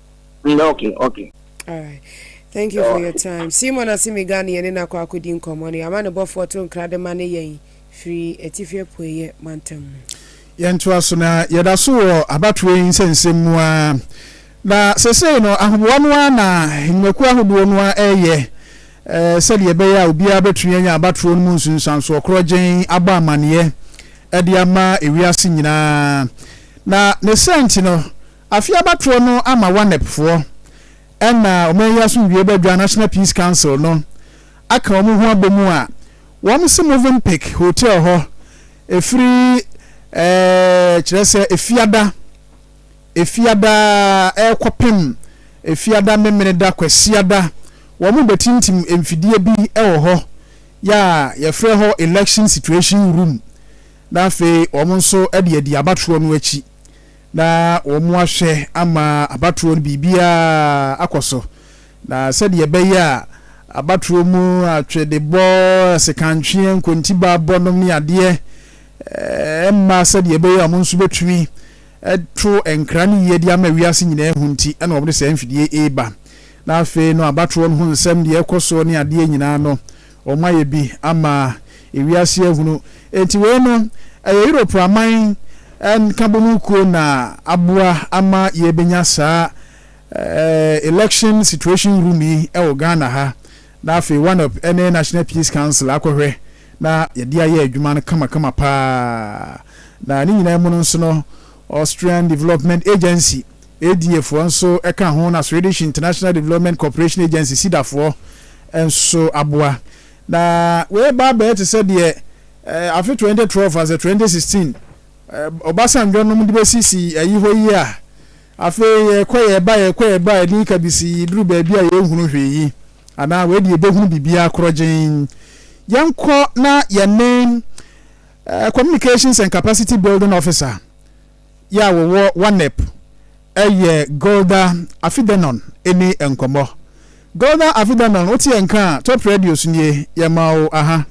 Mm, okay, okay. All right. Thank you for your time. Simon Asimiga ne yɛne no akɔ akɔdi nkɔmmɔ no. Yɛama ne bɔfoɔ to nkra de ma ne yɛn firi atifi apueeɛ mantam mu. Yɛntoa so na yɛda so wɔ abatoɔ yi nsɛnsɛm mu a na sesei no ahoboa no ara na nnwumakuo ahodoɔ no ara ɛreyɛ eh, sɛdeɛ ɛbɛyɛ a obiara bɛtumi anya abatoɔ no mu nsunsuansoɔ korɔ gyɛn abɔ amanneɛ de ama ewiase nyinaa na ne sɛnti no Afe abatoɔ no ama WANEP foɔ ɛna ɔman yi asomdwie badwa, National Peace Council, no aka wɔn ho abɔ mu a wɔn se Movenpick Hotel hɔ ɛfiri ɛɛ kyerɛ sɛ Efiada Efiada ɛrekɔ pem Efiada Memeneda Kwasiada wɔn bɛtintim mfidie bi wɔ hɔ yɛ a yɛfrɛ hɔ Election Situation Room na afei wɔn nso de adi abatoɔ no akyi na wɔahwɛ ama abatoɔ no biribiara akɔ so, na sɛdeɛ ɛbɛyɛ a abatoɔ mu atwedebɔ, sekantweɛ, nkontibabɔ nom ne adeɛ mma sɛdeɛ ɛbɛyɛ a wɔn nso bɛtumi to nkra no yie de ama wiase nyinaa ahu nti na wɔde saa mfidie reba. Na afei no abatoɔ no ho nsɛm deɛ ɛkɔ soɔ ne adeɛ nyinaa no Wɔayɛ bi ama wiase ahunu. Enti wei no, ɛyɛ Europe aman nkabom kuo na aboa ama yɛbɛnya saa Election Situation Room yi wɔ Ghana ha, na afei WANEP ne National Peace Council akɔhwɛ na yɛde ayɛ adwuma no kamakama pa ara. Na ne nyinaa mu no nso no, Austrian Development Agency ADA foɔ nso ka ho na Swedish International Development Cooperation Agency, Sida, foɔ nso aboa. Na wei reba abɛyɛ te sɛ deɛ afe 2012 asɛ 2016 Obasanjo nom de bɛsi si ayi hɔ yi a, afei yɛkɔ yɛba yɛkɔ yɛba a ɛdin kabisi yi duru baabi a yɛnhunu hwee yi anaa wei deɛ yɛbɛhunu biribiara korɔgyenn. Yɛnkɔ na yɛne Communications and Capacity Building Officer, yɛ a wɔwɔ Wanep yɛ Golda Afidanon ni nkɔmmɔ. Golda Afidanon, wote yɛn nka a, Top Radio so nie, yɛma wo aha.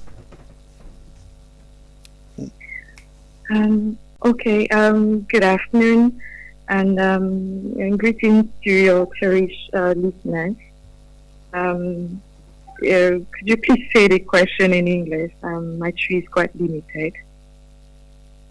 Um, okay, um, good afternoon and, um, and greetings to your cherished uh, listeners. Um, uh, could you please say the question in English? Um, my tree is quite limited.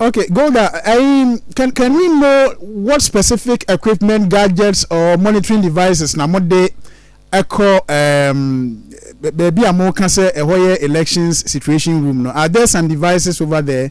Okay, Golda, um, can, can we know what specific equipment, gadgets, or monitoring devices na mode ɛkɔ um, baabi a moka sɛ ɛhɔ yɛ elections situation room no? Are there some devices over there?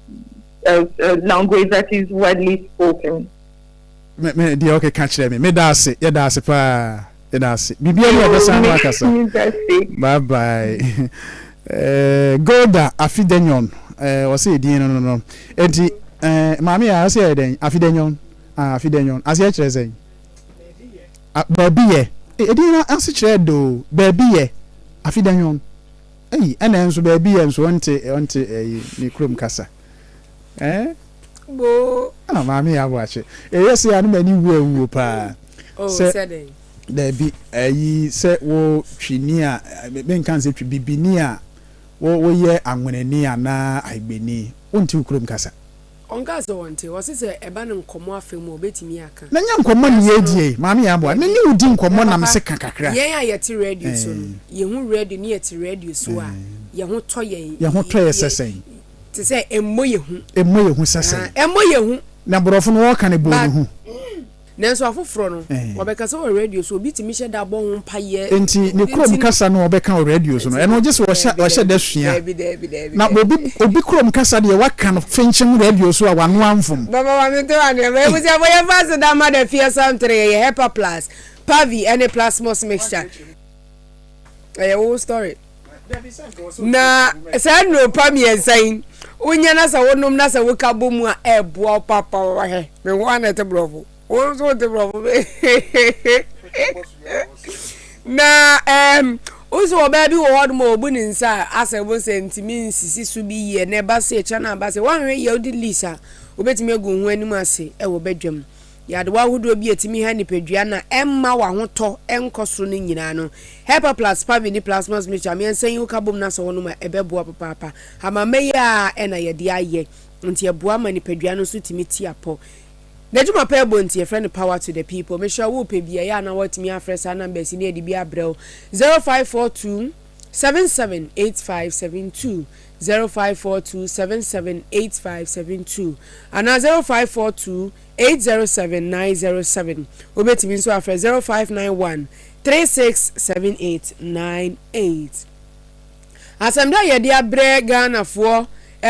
uh, uh, language that is widely spoken. Me me deɛ ɔkeka kyerɛ me meda ase yɛda ase paa yɛda ase biribiara mu ɔbɛsan no akasa bye bye eh, golda afidenyon eh, ɔsɛ ɛdin no no no enti eh, maame yɛ ɔsɛ yɛ dɛn afidenyon ah, afidenyon aseɛ kyerɛ sɛn ah, baabi yɛ ɛdin no ase kyerɛ do baabi yɛ afidenyon Ei ɛna nso baabi yɛ nso ɔnte ɔnte ɛyi ne kurom kasa ɛɛ boo ah maame yɛ aboakye ɛyɛ sɛ ano m'ani wu awuo paa sɛ daabi ɛyi sɛ wo twini a menka nsɛ twi bibini a wo woyɛ anwenani anaa agbeni wonte wo kurom kasa. Ɔnkaa sɛ ɔnte. Ɔse sɛ ɛba no nkɔmmɔ afa mu a ɔbɛtumi aka. Mɛnyɛ nkɔmmɔ ne yɛn adi ei. Maame Yaboa, me ne wo di nkɔmmɔ na mese ka kakra. Yɛn a yɛte radio so no, yɛhu radio ne yɛte radio so a, yɛn ho tɔ yɛn. Yɛn ho tɔ yɛ sɛ sɛn? Te sɛ ɛmmɔ yɛn hu. Ɛmmɔ yɛn hu sɛ sɛn? Ɛmmɔ yɛn hu. Na borɔfo no wɔka no bɔɔ ne hu. Nanso afoforɔ no, wɔbɛkasa wɔ radio so. Obi tumi hyɛ da bɔ ho mpaeɛ. Enti ne kurom kasa no wɔbɛka wɔ radio so no, ɛno gye sɛ ɔhyɛ ɔhyɛ da sua. Daabi, daabi, daabi, Na obi daabi. obi kurom kasa deɛ wɔaka no fenkyem radio so a w'ano amfom. Baba ma me to anwɛma abusuafo yɛ mfa aseda mma da fie asam tere yɛ yɛ hepa plus, pavi ɛne plasmos mixture ɛyɛ wo story. Na saa nnuro pa mmiɛnsa yi wonya na sɛ wonom na sɛ woka bɔ mu a ɛboa wo papa wahɛ me ho ana ɛte borɔfo wo nso wote borɔfo na ɛɛm wosi ɔbaa bi wɔ hɔ nom a ɔbu ne nsa asɛ bo sɛ ntumi nsisi so bi yie na ɛba sɛ ɛkyɛ no aba sɛ woanhwɛ yɛ wode lease a wobɛtumi agu ho anim ase ɛwɔ badwam Nyadewa ahodoɔ bi a ɛtumi ha nipadua na ɛmma w'ahotɔ nkɔ soro no nyinaa no, Hepa plus Pavit ne Plasmos Mixture a meɛnsa yi woka bom na sɛ wonom a, ɛbɛboa papaapa. Hamama yi ara na yɛde ayɛ, nti ɛboa ma nipadua no nso tumi tia pɔ. N'adwuma pɛɛ bɔ nti yɛfrɛ no Power to the People. Mehyɛ wo pɛ bi a, ɛyɛ a na woatumi afrɛ saa numbers yi na yɛde bi abrɛ wo, 0542 77 8572, 0542 77 8572 anaa 0542. eight zero seven nine zero seven, wobɛtumi nso afrɛ zero five nine one three six seven eight nine eight. Asɛmda a yɛde abrɛ Ghanafoɔ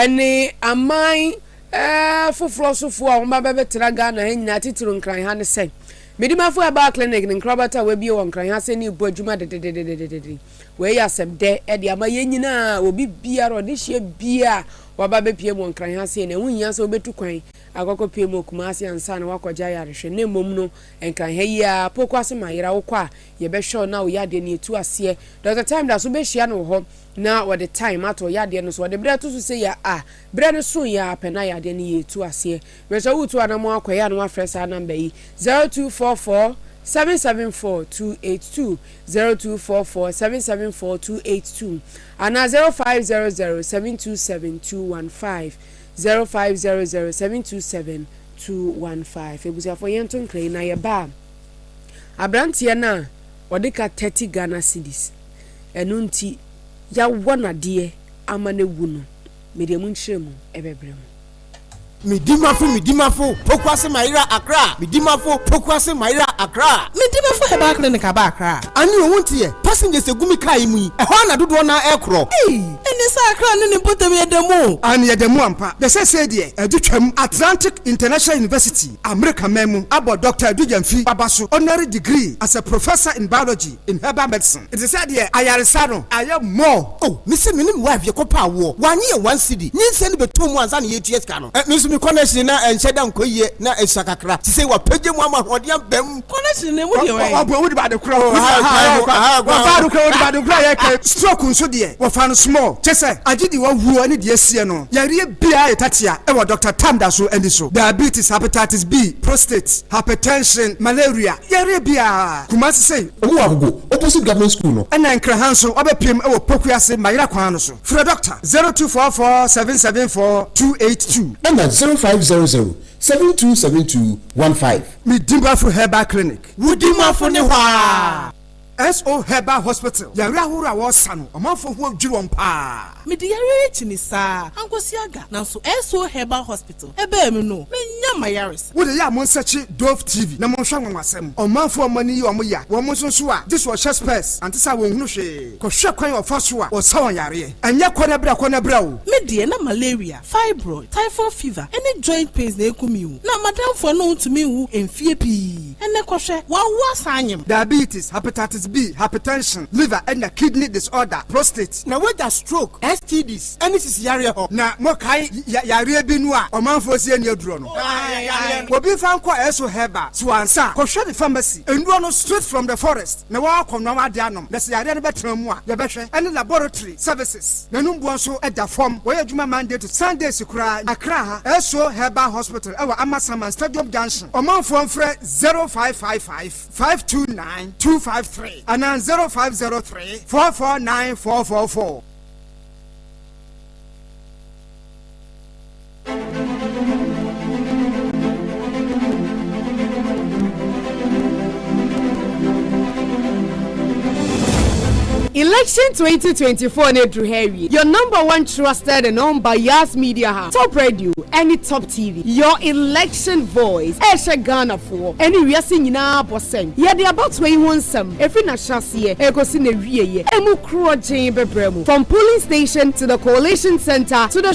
ne aman foforɔ sofoɔ a wɔba bɛbɛtra Ghana ha nyinaa titiriw Nkran ha ne sɛ, Medimafo Herbal Clinic ne nkrabata a wɔabue wɔ Nkran ha sɛ ne rebɔ adwuma dededededede. Wei yɛ asɛmdɛ de ama yɛn nyinaa, obi biara ɔdehyeɛ biara a waba bɛpiem wɔ Nkran ha sei no, ɛho hia sɛ wobɛtu kwan Akɔkɔpie mu wɔ Kumasi ansa na woakɔgye ayarehwɛ na mmom no Nkran ha yi ara, Poku ase ma yera, wokɔ a yɛbɛhwɛ wo na wo yadeɛ no yɛtu aseɛ. Dɔkta Time da so wobɛhyia no wɔ hɔ na ɔde time ato wo yadeɛ no so. Ɔde berɛ to so sei a a berɛ no soeɛ ara pɛ na yadeɛ no yɛtu aseɛ. Mesrɛ wo tu anamɔn akɔ ɛyɛ a na woafrɛ saa number yi, 0244 774 282, 0244 774 282, anaa 0500 727 215, Zero five zero zero seven two seven two one five Abusuafoɔ yɛn to nkra yi na yɛ ba a abranteɛ no a ɔde ka thirty Ghana cedis ɛno nti yawɔ no adeɛ ama no awu no me deɛ mo nkyerɛ mu ɛbɛ brɛ mo. Me dimafo me dimafo pokuase mayera akra me dimafo pokuase mayera akra me dimafo herbal clinic aba akra. Anio wonte yɛ? Passengers gu me car yi mu yi, ɛhɔ ara na dodoɔ no ara rekorɔ. Ene sɛ Accra ne ne mpɔtam yɛ da mu. Aane yɛda mu ampa. Bɛ sɛsɛɛ deɛ adu twam Atlantic International University, Amerika man mu, abɔ Doctor Adu Gyamfi Baba so Honorary Degree as a Professor in Biology in Herbal Medicine. Nte sɛ deɛ ayaresa no ayɛ more. Oh me se menim wife yɛ kɔ paa woɔ wanye yɛn one cedi nyinsɛn no bɛtoo mu ansa na yɛtua sika no. Me nso me kɔ no akyire na ɛnhyɛ da nkɔ yie na ɛsua kakra. Sesei wapagya mu ama ahoɔden abam. Honestly, na emu deɛ wɔyɛ. Wɔbɔ emu de ba adekora hɔ. Aha akora hɔ. Aha akora hɔ. Wɔfa adekora hɔ de ba adekora yɛ kɛ. Stroke nso deɛ, wɔfa no small. Kyɛ sɛ, agye deɛ wahuo ne deɛ asie no. Yareɛ biara yɛ tatia wɔ Doctor Tam da so ani so. Diabetes, hepatitis B, prostate, hypertension, malaria, yareɛ biara. Kumasi sei. Ɔmo wɔ Agogo opposite government school no. Ɛna Nkran ha nso wabɛpiem wɔ Poku ase Mayera kwan no so. Frɛ Doctor zero two four four seven seven four two eight two. Ɛna zero five zero zero seven two seven two one five. Me Dimafo Herbal Clinic. Wo Dimafo ne hɔ aa. SO Herbal Hospital. Yareɛ ahoroɔ a wɔsa no, ɔmanfoɔ ho adwiri wɔn paa. Mede yareɛ yi kyi me saa ankwasiaga nanso SO Herbal Hospital ɛbaa mu no, manya m'ayaresa. Wode yɛ a monsɛkye Dove TV na monhwɛ anwanwasɛm. Ɔmanfoɔ a wɔn ani yɛ wɔn ya, wɔn nso so a, gye sɛ wɔhyɛ spɛɛs, ante saa a wɔnhunu hwee. Kɔhwɛ kwan a wɔfa so a wɔsa wɔn yareɛ. Ɛnyɛ kɔ na bra, kɔ na bra o. Me deɛ na malaria Fibroid, typhoid fever, ne joint pains na ekum yi wo. Na m'adamfo ɛno ontumi nwu mfie pii. Ɛnɛ kɔhwɛ, w'awoɔ asan anyem. Diabetes, hepatitis B, hypertension, liver ɛna kidney disorder, prostate. Na wagya stroke, STDs, ɛne sisi yareɛ hɔ. Na mo kae ya yareɛ bi no a ɔmanfoɔ se ɛni aduro no? Obi nfa nkɔ Esso herbal so ansa a, kɔhwɛ ne pharmacy. Nnuro no straight from the forest na w'akɔ noa w'ade anom. Na sɛ yareɛ no bɛtena mu a, yɛbɛhwɛ ɛne laboratory. services. N'anum boɔ nso da fam. Wɔyɛ adwuma Monday to Sundays koraa. Accra ha, Esso Herbal Hospital ɛwɔ Amasaman Stadium Junction. Ɔmanfoɔ mfrɛ zero five five five five two nine two five three anaa zero five zero three four four nine four four four. Election twenty twenty four no aduru ha awie your number one trusted and unbiased media house top radio ɛne top tv your election voice ɛhyɛ ghanafoɔ ɛne wiase nyinaa bɔ sɛn yɛde abatoɔ yi ho nsɛm ɛfiri n'ahyɛaseɛ ɛkɔsi n'awieɛ ɛmu korɔ gyee bɛbrɛ mu from polling station to the coalition center to the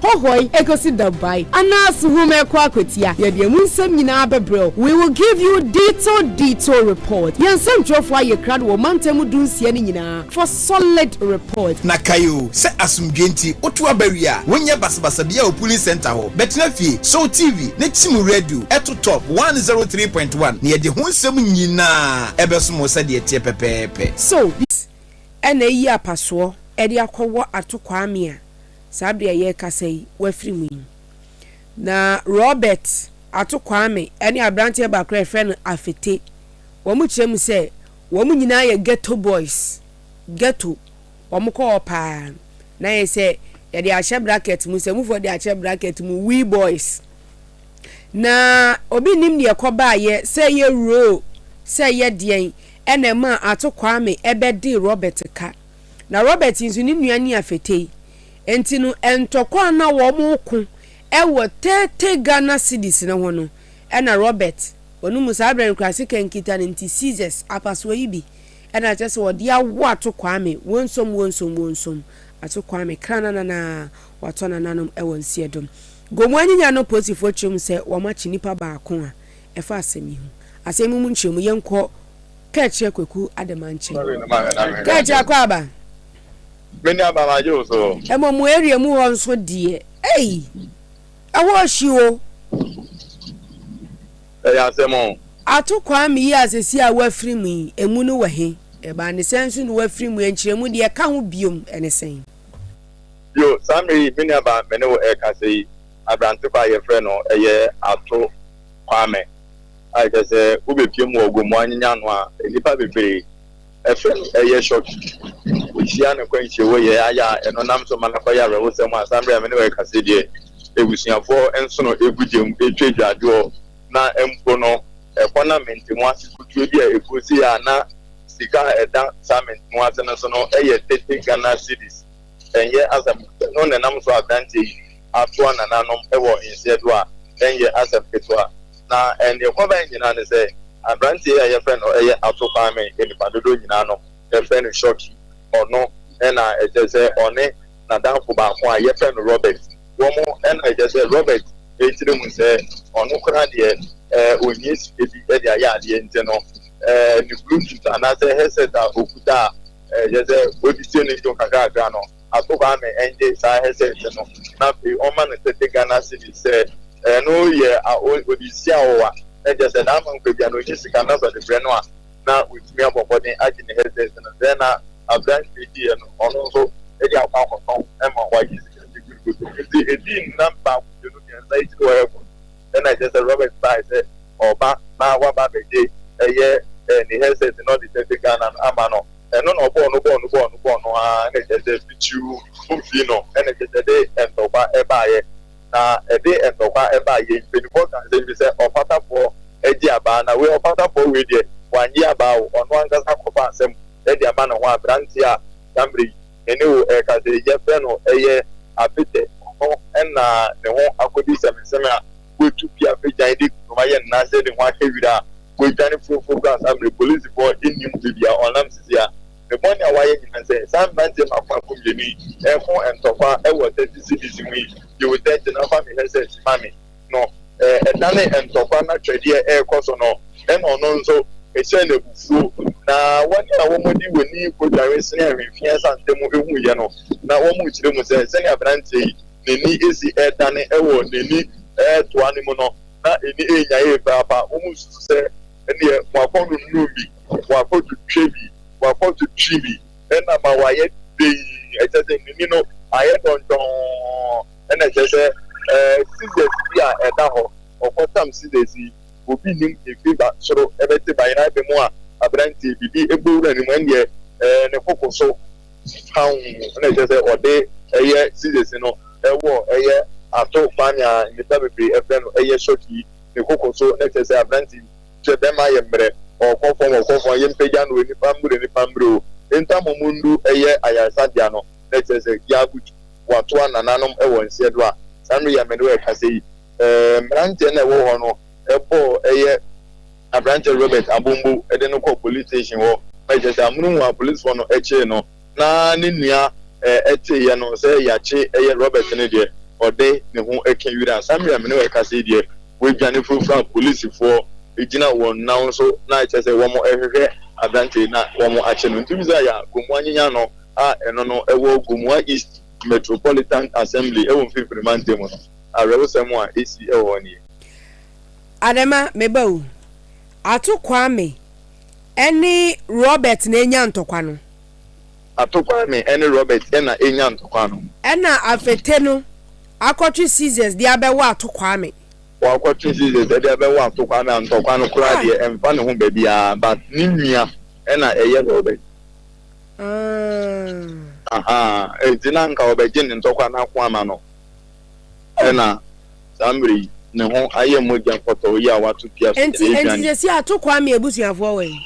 hɔhɔe ekosi da buae, anaa so hom rekɔ akɔtsia, yɛdze hɛn mu nsɛm nyina bɛbrɛ wo. We will give you detail detail report. Hɛn nsɛmtwerɛfoɔ ayɛ krado wɔ mantam mu dunsia no nyina for solid report. Na kae o, sɛ asomdwoe nti wotow aba wie a, wonyɛ basabasa biara wɔ polling centre hɔ. Bɛtena fie, sɔw TV na tsim wo radio, to Top one zero three point one na yɛdze ho nsɛm nyina bɛsom wo sɛdeɛ ɛteɛ pɛpɛɛpɛ. So, this ɛna eyi apasoɔ de akɔ wɔ Ato Kwame a. saa bere a yɛrekasa yi, wafiri mu yi. Na Robert Ato Kwame ne aberanteɛ baako a yɛfrɛ no Afete, wɔkyerɛ mu sɛ wɔn nyinaa yɛ ghetto boys, ghetto, wɔkɔ hɔ pa ara. Na ayɛ sɛ yɛde ahyɛ bracket mu, Nsamufoɔ de ahyɛ bracket mu, We Boys. Na obi nnim deɛ ɛkɔbaeɛ, sɛ ɛyɛ role, sɛ ɛyɛ deɛn, ɛna ɛmaa Ato Kwame bɛdee Robert ka. na Robert nso ne nua Nia fetee. Enti no, ntɔkwa a na wɔreko wɔ tete Ghana cedis no ho no, na Robert wɔ no mu. Saa berɛ no koraa, sika nkita no nti, seizures, apasoɔ yi bi na na kyerɛ sɛ wɔde awo ato Kwame, wonsom, wonsom, wonsom, ato Kwame, krananana, wɔatɔ nananom wɔ nsiedom. Gomu anyinya no polisifoɔ kyerɛ mu sɛ wɔakye nipa baako a ɛfa asɛm yi ho. Asɛm yi mu nkyerɛmu, yɛnkɔ Kɛkyɛ Kwaku Adama nkyɛn. Kɛkyɛ Akwaaba. Me nua ba magye wo so. Ɛmɔ mo area mu hɔ nso deɛ ei ɛhɔ hyi o. Ɛyɛ asɛm o. Ato Kwame yi a sɛsi a wafiri mu yi emu no wɔ he? Ɛbaa ne sɛn nso na wafiri mu yi nkyerɛmu deɛ ɛka ho biom ɛne sɛn? Yo, saa mmerɛ yi me nua ba me ne wo ɛɛkasa yi abrante kɔ a yɛfrɛ no ɛyɛ Ato Kwame. a kyerɛ sɛ wobepue mu wɔ ogu mu anyenya ano a nnipa bebree frɛ no ɛyɛ shoki. Wohyia no akwanhyia wɔ yɛ ayɛ a ɛno nam so ma no kɔyɛ awerɛhosɛm a saa bere a me ne wo rekasa yi deɛ abusuafoɔ nsono gu gya mu twa agyaadwoɔ na mpo no ɛkɔ na mente mu ase kutuo bi a ɛkuo sei a na sika a ɛda saa mente mu ase no so no yɛ tete Ghana cedis ɛnyɛ asɛm no na ɛnam so aberanteɛ yi atoa nananom wɔ nhyɛdo a ɛnyɛ asɛm ketewa. Na nea ɛkɔbae nyinaa ne sɛ, aberante yi a wɔfrɛ no Ato Kwame, a nnipa dodow nyinaa no frɛ no Shocky, ɔno na ɛkyerɛ sɛ ɔne n'adamfo baako a wɔfrɛ no Robert, wɔn na ɛkyerɛ sɛ Robert tirim sɛ ɔno koraa deɛ ɔnhia sika bi de ayɛ adeɛ nti no, ne Bluetooth anaasɛ headset a ɔkuta a ɛkyerɛ sɛ ɔde tie ne nnwom kakrakra no, Ato Kwame ngye saa headset no na afei ɔmma no thirty Ghana cedis sɛ ɛno yɛ ɔde si awowa na kyerɛ sɛ n'ama nkwa bia no ɔnnya sika na sɛ ɔde brɛ no a na watumi abɔ mmɔden agye ne headset no sɛɛ na aberanteɛ yi yɛ no ɔno nso de akɔ akɔtɔn ma wagye sika bebree koto nti ɛdii nnam baako mmienu mmiɛnsa akyiri hɔ ɛkɔ na na ɛkyerɛ sɛ Robert bae sɛ ɔreba na waba abɛgye ɛyɛ ne headset na ɔde Tete Ghana no ama no. Ɛno na ɔbɔɔ no bɔɔ no bɔɔ no bɔɔ no ara na ɛkyerɛ sɛ Pitiu Mumfii no na ɛkyerɛ sɛ ɛde ntɔkwa baeɛ. Na ɛde ntɔkwa baeɛ yi, mpanimfoɔ kaa asɛm bi sɛ ɔfatafoɔ gye abaa na wei ɔfatafoɔ wei deɛ wannye abaa o, ɔno ankasa akɔfa asɛm de ama ne ho aberanteɛ a saa mmerɛ yi, me ne wo rekasa yi, yɛfrɛ no ɛyɛ Apete. Ɔno na ne ho akɔdi sɛmesɛme a watu pi afe gyan de kurom ayɛ nna sɛ ne ho ahyɛ wira a wadwane furofuro kɔ asammere. Polisifoɔ nnim baabi a ɔnam sisi a ne bɔne a wayɛ nyinaa sɛ saa mmeranteɛ maakomaako mmienu yi reko ntɔkwa wɔ 30 cedis ho yi. Yiw, Tɛkyɛ, na fa me headset ma me. no, ɛdanee ntɔkwa na twɛdeɛ rekɔ so no, ɛna ɔno nso ɛhyɛɛ no abufuo. Na wɔn a wɔde wɔn ani kɔdware senee ahwehweɛ asante mu huiɛ no, na wɔkyerɛ mu sɛ, Sɛdeɛ aberanteɛ yi n'ani si redane wɔ n'ani toa no mu no, na ani renya yie paa pa. Wɔsusu sɛ, Ɛnneɛ wɔakɔnonom bi, wɔakɔtwitwa bi, wɔakɔtwetwe bi na ama wayɛ dinn, ɛkyerɛ sɛ, n'ani no ayɛ dɔnhwɔɔ. ɛna ɛkyerɛ sɛ ɛɛ scissors bi a ɛda hɔ ɔkɔ tam scissors yi obi nim efi ba soro ɛbɛte ba yɛn abɛ mu a abranteɛ bi de ɛbɔ wura no mu ɛndeɛ ɛɛ ne koko so pawn ɛna ɛkyerɛ sɛ ɔde ɛyɛ scissors no ɛwɔ ɛyɛ ato kwan a nnipa bebree ɛfrɛ no ɛyɛ short yi ne koko so ɛna ɛkyerɛ sɛ abrante yi kyerɛ bɛma yɛ mmerɛ ɔkɔ fam ɔkɔ fam yɛ mpagya no nipa mmere nipa mmere o ntamu mu ndu ɛyɛ ayaresabea no ɛna ɛkyerɛ sɛ yɛ abutu. boatoa nananom wɔ nseɛ do a, saa mber yi a me ne wo rekasa yi, mberantsɛ no a wɔwɔ hɔ no bɔɔ yɛ aberantsɛ Robert Abombo dze no kɔɔ police station hɔ ma kyerɛ sɛ amono mu a polisfoɔ no kyee no na ne nua tseeɛ no sɛ yɛakye yɛ Robert no deɛ, ɔdze ne ho kã wira a, saa mber yi a me ne wo rekasa yi deɛ, oedwane furafura a polisfoɔ gyina hɔn nan so na kyerɛ sɛ wɔrohwehwɛ aberantsɛ yi na wɔakye no. Ntsi hu dza yɛ a, kɔnmu annyenya no. a ɛno no ɛwɔ Gomoa East Metropolitan Assembly ɛwɔ Mfimfini Mantam no, awerɛhosɛm a ɛsi ɛwɔ hɔ nie. Adama, me ba o. Ato Kwame ɛne Robert na ɛnya ntɔkwa no. Ato Kwame ɛne Robert ɛna ɛnya ntɔkwa no. Ɛna Afete no akɔtwe scissors de abɛwɔ Ato Kwame. Wakɔtwe scissors ɛde abɛwɔ Ato Kwame a ntɔkwa no koraa deɛ ɛmfa ne ho baabiara but ne nua ɛna ɛyɛ Robert. Ah. Ahaa, enti na anka wɔbɛgye ne ntɔkwa no ako ama no. Ɛna saa mmerɛ yi, ne ho ayɛ mogya pɔtɔɔ yi a wɔato pia so Enti, gyina enti ɛredwane. seesei Ato Kwame abusuafoɔ wɔ he?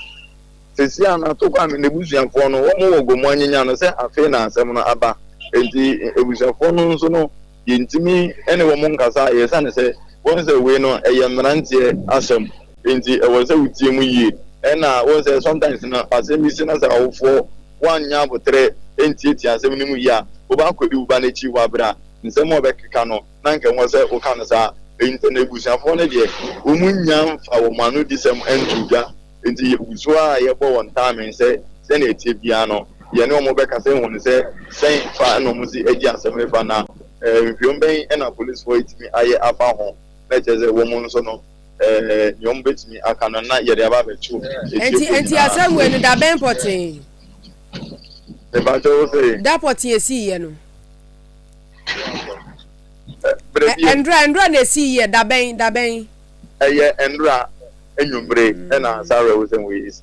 Seesei a na Ato Kwame n'abusuafoɔ no, wɔwɔ Gomoa Nyenya no, sɛ afei na asɛm no aba. Enti abusuafoɔ no nso no, Yɛntumi ne wɔn nkasa ɛsiane sɛ wohu sɛ wei no ɛyɛ mmeranteɛ asɛm nti ɛwɔ sɛ wotie mu yie ɛna wohu sɛ sometimes no asɛm bi si na sɛ awofoɔ woannya aboterɛ ɛntiatia asɛm no mu yie a woba akɔdi wo ba no akyi wɔ aberɛ a nsɛm a ɔbɛkeka no na nka ɛwɔ sɛ woka no saa nti na abusuafoɔ no deɛ wɔn nnya mfa wɔn anodisɛm nto dwa Enti yegu so ara yɛbɔ wɔn ntaamee sɛ sɛnea ɛteɛ biara no, yɛne wɔn bɛkasa ahu no sɛ sɛn fa na wɔsi agye asɛm no fa, na nhwehwɛmu bɛn na polisifo atumi ayɛ afa ho, na ɛkyerɛ sɛ wɔn nso no, nea wɔbetumi aka no na yɛde aba abɛto atiefo nyinaa so. Enti asɛm wei no da bɛn pɔtee? Mepakyɛw, wose? Da pɔtee a esiiɛ no. Bere bi. Ɛndora, ɛndora na esiiɛ, da bɛn, da bɛn? ɛyɛ nnora anwummere na saa awerɛhosɛm wei si.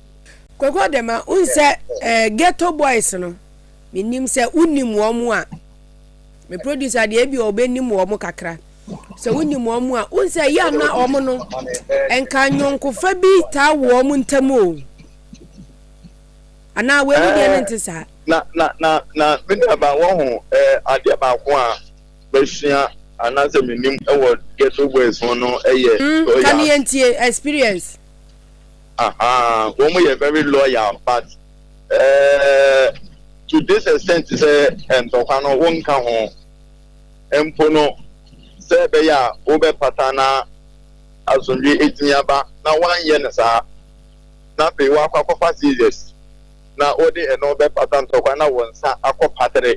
Koko de ma wohu sɛ eh, Ghetto Boys no, menim sɛ wonim wɔn a, me producer deɛ ebi ɔbɛnim wɔn kakra. Sɛ wonim wɔn a, wohu sɛ yɛ na wɔn no, nka nyɔnkofa bi taa wɔ wɔn ntam o. Anaa wei mu deɛ no eh, nte saa? Na, na, na, na, me nuaba, wɔn ho, eh, adeɛ baako a, masua anaasɛ menim wɔ Ghetto Boys ho no yɛ mm, loyal. Ka ne yɛntie experience. Aha, wɔn yɛ very loyal but uh, to this extent sɛ ntɔkwa no wonka ho mpo no sɛ ɛbɛyɛ a wobɛpata na asomdwe ɛtumi aba na woanyɛ no saa na afei woakɔ akɔfa seizures na wode ɛno bɛpata ntɔkwa na wo nsa akɔ patere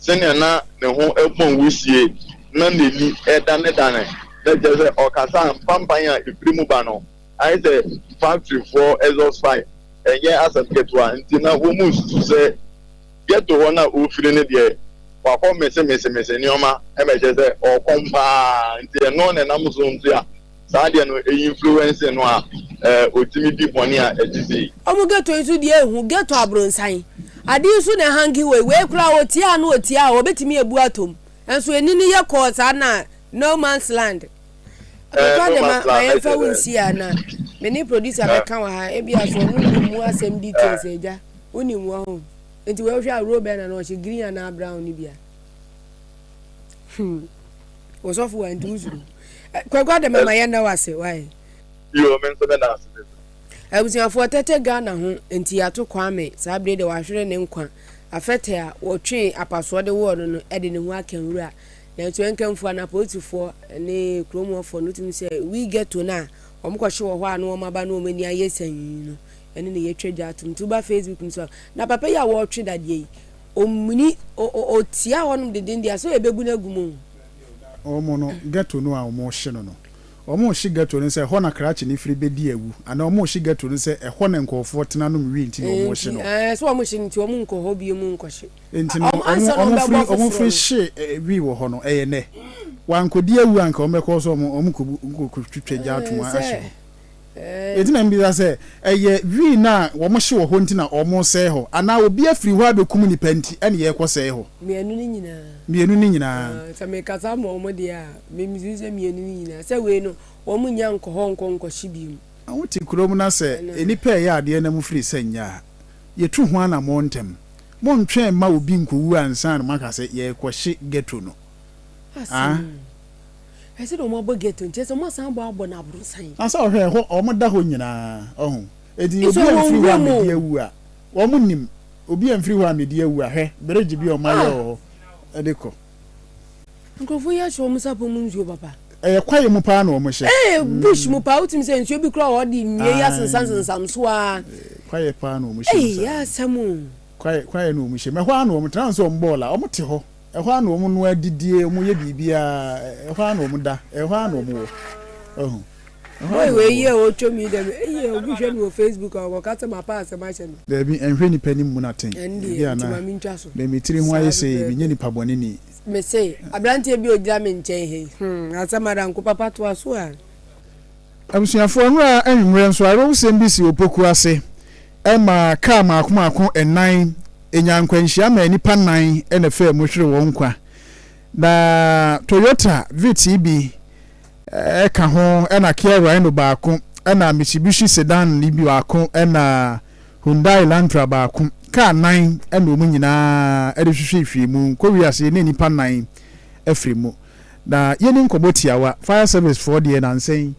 sɛnea na ne ho pɔn wisie na n'ani danedane, na kyerɛ sɛ ɔkasa a mpanpan a ɛfiri mu ba no ayɛ sɛ faktorifoɔ exhaust pipe. Ɛnyɛ asɛm ketewa nti na wɔnsusu sɛ ghetto hɔ no a ɔrefiri no deɛ wakɔ mesemese nneɛma ma ɛkyerɛ sɛ ɔkɔm pa ara nti ɛno na ɛnam so nso a Saa adeɛ no ɛyi influence no a ɔtumi di bɔne a ɛte sei. Ɔmo ghetto yi so deɛ ehu, ghetto abronsan. Ade yi so na ɛhange wei, wei koraa ɔtiaa no ɔtiaa hɔ ɔbɛtumi abu atom. Nso ani no yɛ kɔɔ saa na no man's land. Abotwa de ma ma yɛnfa wo nsi ha na me ne producer bɛka wɔ ha ebia so ɔno nim mu asɛm details agya wonim wɔ ho nti wei wohwɛ a role bɛn na na ɔhyɛ green anaa brown no bi a. Hmm. Ɔsɔfo wa nti wosuro. Eh, Kwaku Adam ama yɛn da wase. Why? Yo, me nso me da ase me nso. Abusuafoɔ tɛtɛ Ghana ho nti yɛato Kwame saa bere de wahwere ne nkwa afɛtɛ a wɔtwee apasoɔ de wɔɔ no no de ne ho aka nwura nanso ɛnkamfua na polisifoɔ ne kurom hɔfoɔ no tumi sɛ wi ghetto no a wɔn kɔhye wɔ hɔ a na wɔn aba no wɔn ani ayɛ sanyi no ɛne ne yɛtwa dwa atom nti woba Facebook no so na papa yi a wɔretwe dadeɛ yi Ɔmini ɔtia hɔnom deden deɛ a sɛ yɛbɛgu no agu mu o. Wɔn no ghetto no a wɔrehye no no, wɔrehye ghetto no sɛ ɛhɔ na krakye no firi bɛdi awu anaa wɔrehye ghetto no sɛ ɛhɔ na nkurɔfoɔ tena nom wie nti na wɔrehye no? Ɛɛ sɛ wɔrehye no nti wɔn nkɔ hɔ bio mu nkɔhye. Nti no ansa na wɔbɛbɔ afoforɔ no. Wɔn firi hye wii wɔ hɔ no ɛyɛ nɛ? Wɔankɔdi awu a nka wɔbɛkɔ so a wɔkɔtwitwa gya atom ahye hɔ. Enti na mibisa sɛ, ɛyɛ wii no a wɔhye wɔ hɔ nti na wɔresɛe hɔ, anaa obi afiri hɔ abekum nnipa nti na yɛrekɔsɛe hɔ? Mmienu no nyinaa. Mmienu no nyinaa. Ah, sɛ mekasa ma wɔn deɛ a, mimisi sɛ mmienu no nyinaa. Sɛ wei no, wɔnnya nkɔ hɔ nkɔ nkɔhye bio. Na wote kurom na sɛ nnipa reyɛ adeɛ na mofiri sɛ nyɛ a, yɛtu ho anammɔn ntɛm. Monntwɛn mma obi nkɔwu ansa na moaka sɛ yɛrekɔhye ghetto no. Ah. Ɛsɛ dɛ wɔabɔ gate no, kyerɛ sɛ wɔasan abɔ abɔ no abrɔsan. Ansa ɔhwɛ ɛhɔ wɔn da hɔ nyinaa ɔho enti obi amfiri hɔ amedi awu a wɔn nim obi amfiri hɔ amedi awu a hwɛ bridge bi a wɔn ayɛ wɔ hɔ ɛde kɔ. Nkurɔfoɔ yi ahyɛ wɔn sapɔ mu nsuo papa. Ɛyɛ kwaeɛ mu paa na wɔn hyɛ. Ɛɛ bush mu paa wotumi sɛ nsuo bi kura wɔ hɔ de nnua yi asensam sensam so aa. Kwaeɛ paa na wɔn hyɛ mu saa. Ɛyɛ asɛm o. Kwaeɛ kwaeɛ na wɔn hyɛ mu ɛhɔ ara na wɔn tena nso wɔn bɔɔla wɔn te hɔ. Ɛhɔ ara na wɔnoa, didie, wɔyɛ biribiara, ɛhɔ ara na wɔda, ɛhɔ ara na wɔwɔ. Wahu? Ɛhɔ ara Boy na wei wɔwɔ. yɛ a ɔtwa mu yi dɛm eii obi hwɛ no wɔ facebook a ɔkɔka sɛ mapɛ asɛm ahyɛ no. Daabi, nhwɛ nipa anim mmu no atɛn. Ɛndeɛ, Ebia nti na ma mentwa so. me me tiri ho ayɛ Saa sei, menyɛ pɛpɛɛpɛ. nipa bɔne ni. Mese, aberanteɛ bi a ɔgyina me nkyɛn ha yi, hmm, asɛm ara, nko papa toa so aa. Abusuafo, nnora anwummere nso, awerɛhosɛm bi sii Opoku ase ma kaa mmaako mmaako nnan nyaa nkwanhyia maa nnipa nnan na ɛfaa mu hweree wɔn nkwa. Na Toyota Vitz yi bi ka ho na Kia Rhino baako na Mitsubishi Sedan yi bi baako na Hyundai Elantra baako. Kaa nnan na wɔn nyinaa de hwehwee firii mu. Kowiase na nnipa nnan firii mu. Na yɛni nkɔmmɔ tiawa. Fire service foɔ deɛ nansɛ yi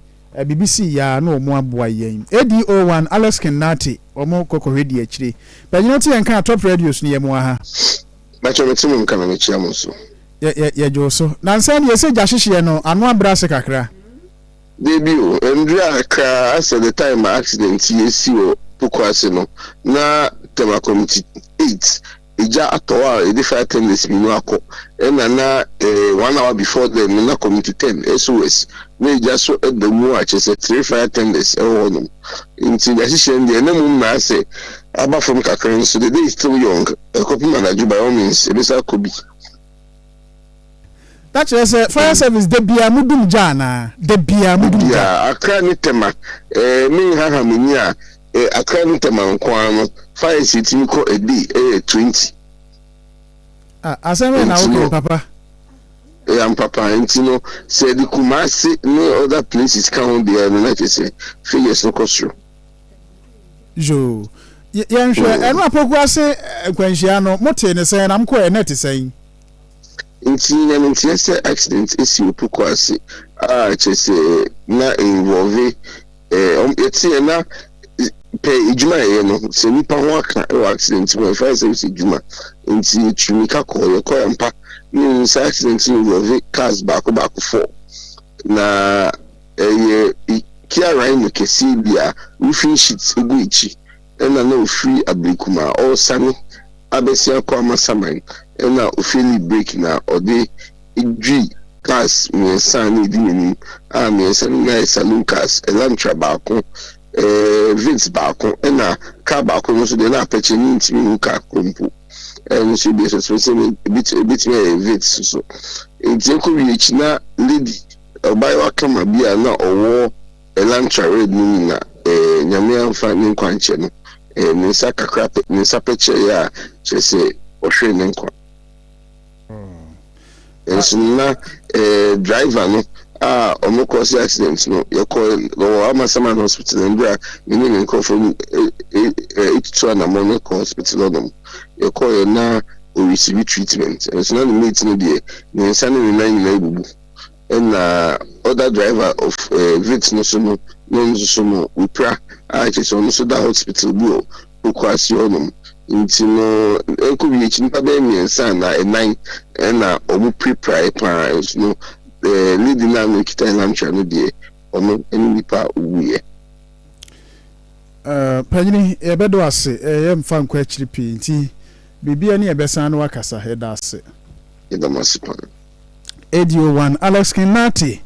biribi sii yɛ a na wɔn aboa yɛn. ADO one, Alex King Nartey, wɔn kɔ kɔhwɛ di akyire. Panyini ɔte yɛn kaa Top Radios no yɛ mo aha. Mpakyɛ mete mo nka na mekyia mo nso. Yɛ yɛ yɛdwoo so. Nansɛ deɛ sɛ gya hyehyeɛ no ano abrɛ ase kakra. Dabi o, ɛnduru a kraa asɛ the time a accident yi ɛsi wɔ Pokuase no na Tema committee eight Egya atɔ hɔ a yɛde fire tenders mmienu akɔ ɛna na one hour before then no na community ten SOS na egya so da mu a kyerɛ sɛ three fire tenders ɛwɔ hɔ nom nti deɛ ahyehyɛ no deɛ na mmom na ayɛ sɛ aba fam kakra nso the day is still young ɛkɔpem anadwo by all means yɛbɛsan akɔ bi. Na kyerɛ sɛ fire service da biara mo dum gya anaa? Da biara mo dum gya? Da biara. Accra ne Tema ɛɛ me nhaha m'ani a E Akra ne Tema nko ara no fires etumi kɔ a day ɛyɛ twenty. Ah asɛm bɛn na woka yi papa. E ampa pa nti no sɛ yɛde Kumasi ne other places ka ho deɛ no na kyerɛ sɛ figures no kɔ soro. Yoo yɛnhwɛ ɛno apoku ase nkwanhyia no motee ne sɛn na mokɔɛ na ɛte sɛn. Nti nyame nteɛ sɛ accident esi opoku ase a kyerɛ sɛ na involve Yɛteɛ na pɛ adwuma a yɛyɛ no sɛ nnipa ho aka wɔ accident mu a yɛfrɛ service adwuma nti yɛtu mmirika kɔɔ yɛkɔ yɛ mpa ne yɛn sɛ accident no involve cars baako baako fɔ na ɛyɛ Kia Rhino kɛseɛ bi a roofing sheet gu akyi ɛna na ofiri Ablekuma ɔresane abɛsi akɔ Amasaman ɛna ofeeli brake na ɔde Edwui cars mmiɛnsa a na edi n'anim a mmiɛnsa no nyinaa yɛ saloon cars, Elantra baako, eh, Vitz baako, ɛna car baako no nso deɛ na apɛkyɛ no ntumi nhu car korɔ mpo. Ɛno nso ebi nso tumi sɛ ebi ebetumi ayɛ Vitz nso. Nti ɛkɔ wie akyi na lady ɔbaayewa kama bi a na ɔwɔ Elantra red no mu na eh, nyame anfa ne nkwa nkyɛ no. Eh, ne nsa kakra pɛ, ne nsa pɛkyɛɛ a kyerɛ sɛ ɔhwere ne nkwa. Nanso na driver no a wɔn kɔ si accident no yɛ kɔ wɔ Amasaman hospital no bere a me ne me nkurɔfoɔ no etutu anamɔ no kɔ hospital hɔ nom yɛ kɔ yɛ na ɔresibi treatment nanso na ne mate no deɛ ne nsa ne ne nan nyinaa ebubu Nna other driver of Vitz no so no no nsoso no wipira a kyerɛ sɛ ɔno so da hotspital bi wɔ Pokuase hɔ nom ntsi no nko wie ekyi nyimpa bɛyɛ miɛnsa anaa enan na ɔmo pirapirae paa nso no lady no a no okita Elantra no deɛ ɔno ne nyimpa a owuiɛ. Ahh panyini yɛbɛda wo ase yɛ mfa nkɔ akyiri pii nti biribi a ne yɛbɛsan na wakasa yɛda ase. Yɛda mo ase paa. Adio One Alex King Nartey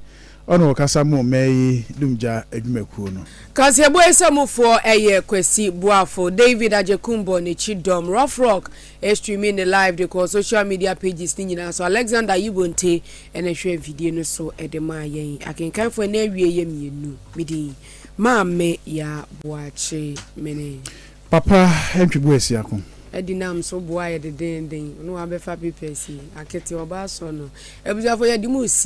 ɔna ɔkasa mo mmɛ yi dumgya adwumakuo no. Kaseɛbɔ yi sɛ mo foɔ ɛyɛ Kwasi Boafo, David Agyekumbo, ne Chi Dɔm, Rough Rock ɛstreami ne live de kɔɔ social media pages ne nyinaa so, Alexander Ayibonte ɛna ɛhwɛ mfidie no so ɛde maa yɛn. Akenkanfoɔ ɛna awie yɛ mmienu, me din Maame Yaa Boakye Mene. Papa ntwegu asi ako. Adi nam so boa yɛ dedennden. Ɔno wabɛfa papers yi akete ɔba asɔ no abusuafo yɛde mo si.